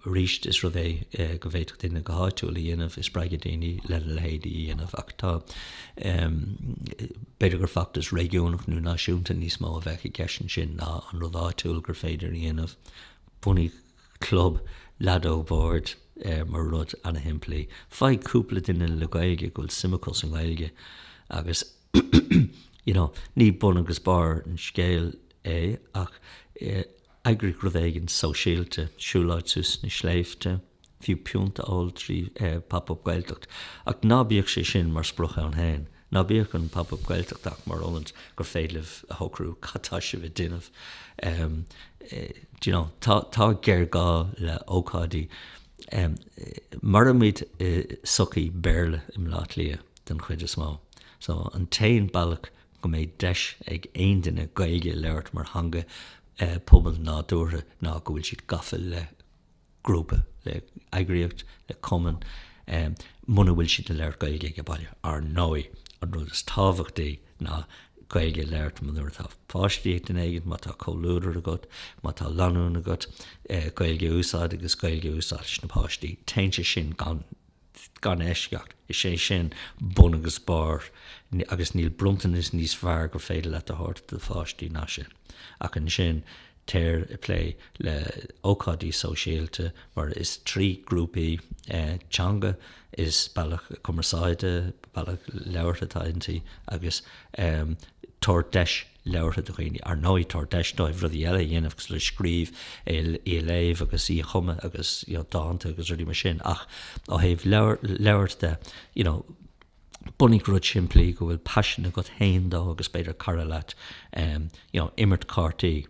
Aríst, is rud é go bhféadfadh duine go háitiúil a dhéanamh, ag spreagadh daoine lena leithéid a dhéanamh, ach tá, b'fhéidir gur feachtas réigiúnach nó náisiúnta níos mó a bheadh i gceist ansin ná an rud áitiúil gur féidir a dhéanamh. Bunaigh club leadóg bhoird mar rud ana-shimplí. Faigh cúpla duine le Gaeilge go bhfuil suim acu sa nGaeilge agus you know ní bun agus barr an scéil é ach Eagraigh rud éigin sóisialta, siúil áit suas sna sléibhte, fiú pionta a ól trí Pop Up Gaeltacht, ach ná bíodh sé sin mar sprioc ann féin. Ná bíodh an Pop Up Gaeltacht ach mar ócáid gur féidir libh a shocrú cad tá sibh a déanamh. D'you know, tá géarghá le ócáidí. Mairimid i sochaí Béarla i mBleá Cliath den chuid is mó, so an t-aon bealach go mbeidh deis ag aon duine Gaeilge a labhairt mar theanga pobail nádúrtha ná go bhfuil siad gafa le grúpa, le heagraíocht, le cumann, muna bhfuil siad ag labhairt Gaeilge aige baile. Ar ndóigh, an rud is tábhachtaí ná Gaeilge a labhairt nuair atá páistí ag duine éigint, má tá comhluadar agat, má tá lanúin agat, Gaeilge a úsáid agus Gaeilge a úsáid leis na páistí. Téann sé sin gan gan eisceacht, is é sin bun agus barr, agus níl bronntanas níos fearr gur féidir leat a thabhairt do do pháistí ná sin. Ach ansin téir ag plé le hócáidí sóisialta, mar is trí grúpaí, teanga is bealach cumarsáide, bealach labhartha atá inti, agus tabhair deis labhartha do dhaoine, ar ndóigh, tabhair deis dóibh rudaí eile a dhéanamh cosúil le scríobh, í a léamh agus í a chumadh agus, you know, dánta agus rudaí mar sin ach ó thaobh labhairt de, you know, bunaigh rud simplí go bhfuil paisean agat fhéin dó agus b'fhéidir cara leat, em, you know, imirt cártaí.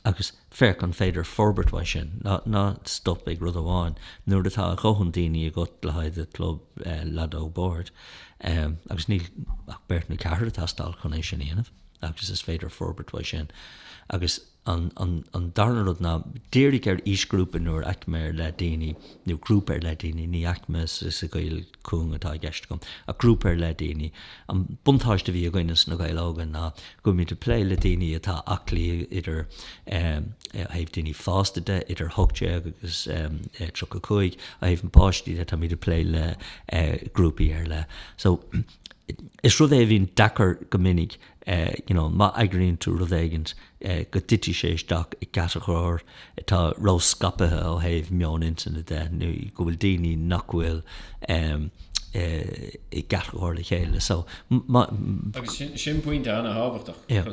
Agus féach an féidir forbairt uaidh sin. Ná stop ag rud amháin. Nuair atá a dhóthain daoine agat le haghaidh do chlub leadóg boird, agus níl ach beirt nó ceathrar ag teastáil chun é sin a dhéanamh, agus is féidir forbairt uaidh sin. Agus an darna rud ná, dírigh ar aoisghrúpa nó ar aicme ar leith daoine, nó grúpa ar leith daoine, ní aicme sa gcaoi cúng atá i gceist agam, ach grúpa ar leith daoine. An buntáiste a bhí againne sna Gaeil Óga ná go raibh muid ag plé le daoine atá aclaí idir, ó thaobh daoine fásta de, idir 18 agus 35, ó thaobh na bpáistí de tá muid ag plé le grúpaí ar leith. So, is rud é a bhíonn deacair go minic you know, má eagraíonn tú rud éigint go dtitfidh sé isteach i gcatagóir atá ró-scaipthe ó thaobh meon intinne de nó go bhfuil daoine nach bhfuil i gcatagóir le chéile. So, má. Agus sin pointe an-tábhachtach. Yeah.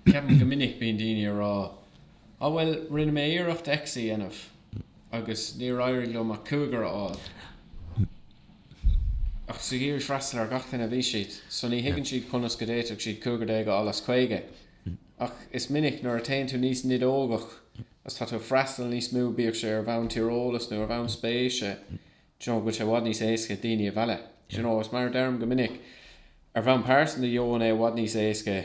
Ceapaim go minic bíonn daoine ag rá. Á bhuel, rinne mé iarracht X a dhéanamh agus níor éirigh liom ach cúigear a fháil. Ach is ag iarraidh, freastal ar gach éinne a bhí siad, so ní thuigeann siad conas go d'fhéadfadh siad cúigear déag a fháil as caoga. Ach is minic nuair a théann tú níos nideogaí agus tá tú ag freastal níos mó, bíodh sé ar bhonn tíreolais nó ar bhonn spéise, d'you know, go bhfuil sé i bhfad níos éasca daoine a mhealladh. D'you know, is mar a deirim go minic, ar bhonn pearsanta gheobhainn é i bhfad níos éasca,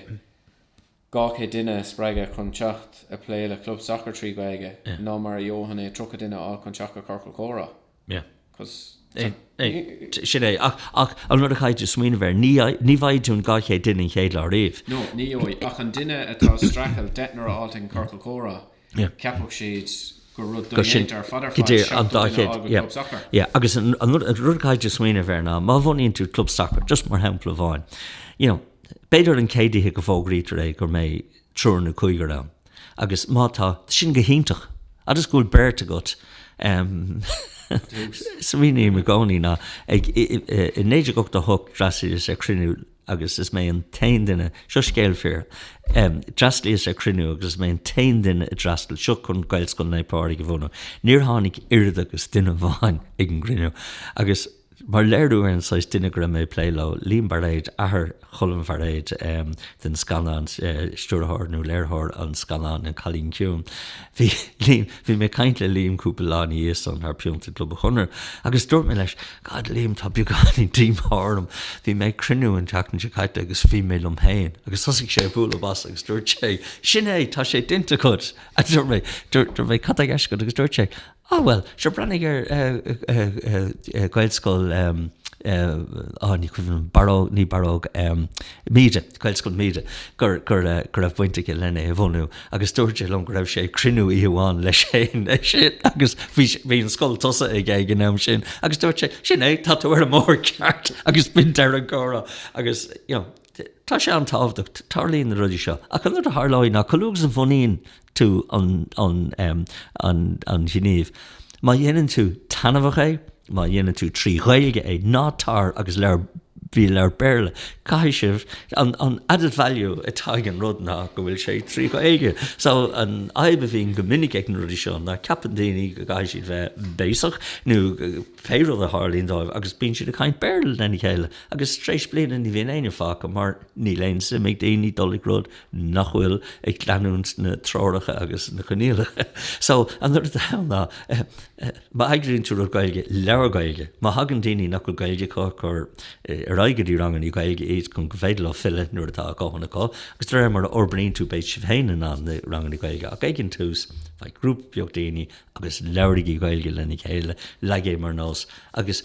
200 duine a spreagadh chun teacht ag plé le club sacair trí Ghaeilge ná mar a gheobhainn é 30 duine a fháil chun teacht go ciorcal comhrá. Sin é. Ach an rud a chaithfidh tú smaoineamh air, ní bhfaighidh tú an 200 duine an chéad lá ariamh. No, ní gheobhaidh. Ach an duine atá ag streachailt, deichniúr a fháilt ag an ciorcal comhrá, Cheapfadh siad go raibh sin go hiontach ar fad ar fad seachtó duine a fhág an club sacair. Yeah, agus an rud a chaithfidh tú smaoineamh air ná, má bhunaíonn tú club sacair, just mar shampla amháin, you know, b'fhéidir an chéad oíche go bhfógraítear é gur mbeidh triúr nó cúigear ann agus má tá, sin go hiontach. Agus go bhfuil beirt agat, em, smaoiním i gcónaí ná, ag, i, i, i 1988 d'fhreastalaíos ar chruinniú agus is mé an t-aon duine, seo scéal fíor, d'fhreastalaíos ar chruinniú agus is mé an t-aon duine a d'fhreastail, seo chun Gaelscoil Naomh Pádraig a bhunú. Níor tháinig oiread agus duine amháin ag an gcruinniú agus mar léiriú ar an saghas duine go raibh mé ag plé leo, Liam Bairéad, athair Choilm Bhairéad, den scannán, stiúrthóir nó léiritheoir an scannáin, An Cailín Ciúin, Bhí Liam, bhí mé ag caint le Liam cúpla lá ina dhiaidh sin thar pionta i gClub an Chonartha agus dúirt mé leis, God, Liam, tá beagáinín díomá orm, bhí mé ag cruinniú an tseachtain seo caite agus bhí mé liom féin. Agus thosaigh sé ag bualadh bos agus dúirt sé, Sin é, tá sé déanta agat! Dúirt mé, cad tá i gceist agat? Agus dúirt sé, Á, bhuel, sure, breathnaigh ar Ghaelscoil, á, ní cuimhin liom, Barróg, ní Barróg, Míde, Gaelscoil Míde, go raibh baint aige len é a bhunú agus dúirt sé liom go raibh sé ag cruinniú oíche amháin leis féin ag sin agus bhí sé, bhí an scoil tosaithe aige ag an am sin agus dúirt sé, sin é, tá tú ar an mbóthar ceart agus b'in deireadh an chomhrá agus, you know, tá sé an-tábhachtach, tarlaíonn na rudaí seo ach an rud a tharlóidh ná chomh luath agus a bhunaíonn tú an gníomh. Má dhéanann tú taitneamhach é, má dhéanann tú trí Ghaeilge é, ná tar agus bí ag labhairt Béarla. Caithfidh sibh, an added value atá ag an rud ná go bhfuil sé trí Ghaeilge. So an fhadhb a bhíonn go minic ag na rudaí seo ná ceapann daoine go gcaithfidh siad bheith béasach nó pé rud a tharlaíonn dóibh agus bíonn siad ag caint Béarla lena chéile agus tar éis bliana ní bhíonn éinne fágtha mar níl aon suim ag daoine dul ag rud nach bhfuil ag leanúint na dtreoracha agus na coinníollacha. So an rud atá ann ná má eagraíonn tú rud Gaeilge, labhair Gaeilge. Má thagann daoine nach bhfuil Gaeilge acu, cuir ar aghaidh go dtí ranganna Gaeilge iad chun gur féidir leo filleadh nuair atá a ndóthain acu. Agus de réir mar a fhorbraíonn tú beidh sibh féin in ann na ranganna Gaeilge ach ag an tús faigh grúpa beag daoine agus labhraigí Gaeilge lena chéile, leag é mar nós agus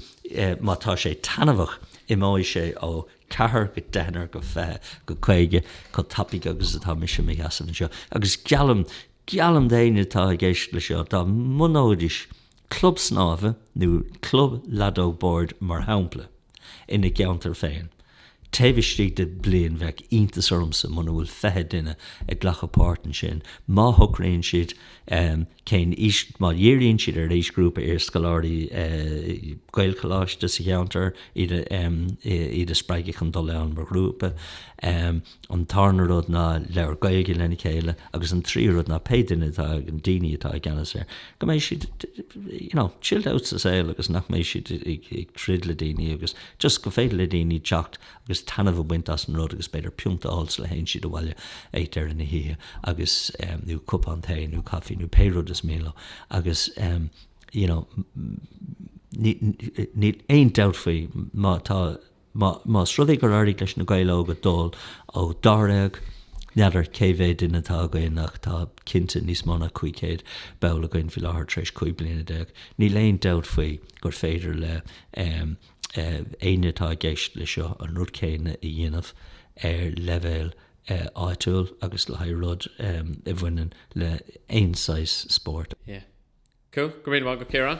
má tá sé taitneamhach imeoidh sé ó 4 go deichniúr go 20 go 50 chomh tapaidh agus atá mise mo sheasamh anseo agus geallaim, geallaim d'éinne atá ag éisteacht le seo, dá mbunóidis club snámha nó club leadóg boird mar shampla ina gceantar féin taobh istigh de bliain bheadh iontas ormsa muna bhfuil 20 duine ag glacadh páirt ansin má shocraíonn siad cén aois, má dhíríonn siad ar aoisghrúpa iarscoláirí Gaelcholáiste sa cheantar, iad a spreagadh chun dul ann mar ghrúpa. An tarna rud ná labhairt Gaeilge lena chéile agus an tríú rud ná pé duine atá, daoine atá i gceannas air, go mbeidh siad you know chilled out sa saol agus nach mbeidh siad ag troid le daoine agus just gur féidir le daoine teacht agus taitneamh a bhaint as an rud agus b'fhéidir pionta a fháil sula théann siad abhaile ag deireadh na hoíche agus, nó cupán tae nó caife nó pé rud is mian leo agus, you know, níl aon dabht faoi, má tá, más rud é gur éirigh leis na Gaeil óga dul ó dáréag, n'fheadar cé mhéad duine atá againn ach tá cinnte níos mó ná 500 ball againn faoi láthair tar éis 15 bliana, níl aon dabht faoi gur féidir le, éinne atá i gceist leis seo an rud céanna a dhéanamh ar leibhéal áitiúil agus le haghaidh rud a bhaineann le haon saghas spóirt. Yeah. Cool. Go raibh maith agat, Ciarán.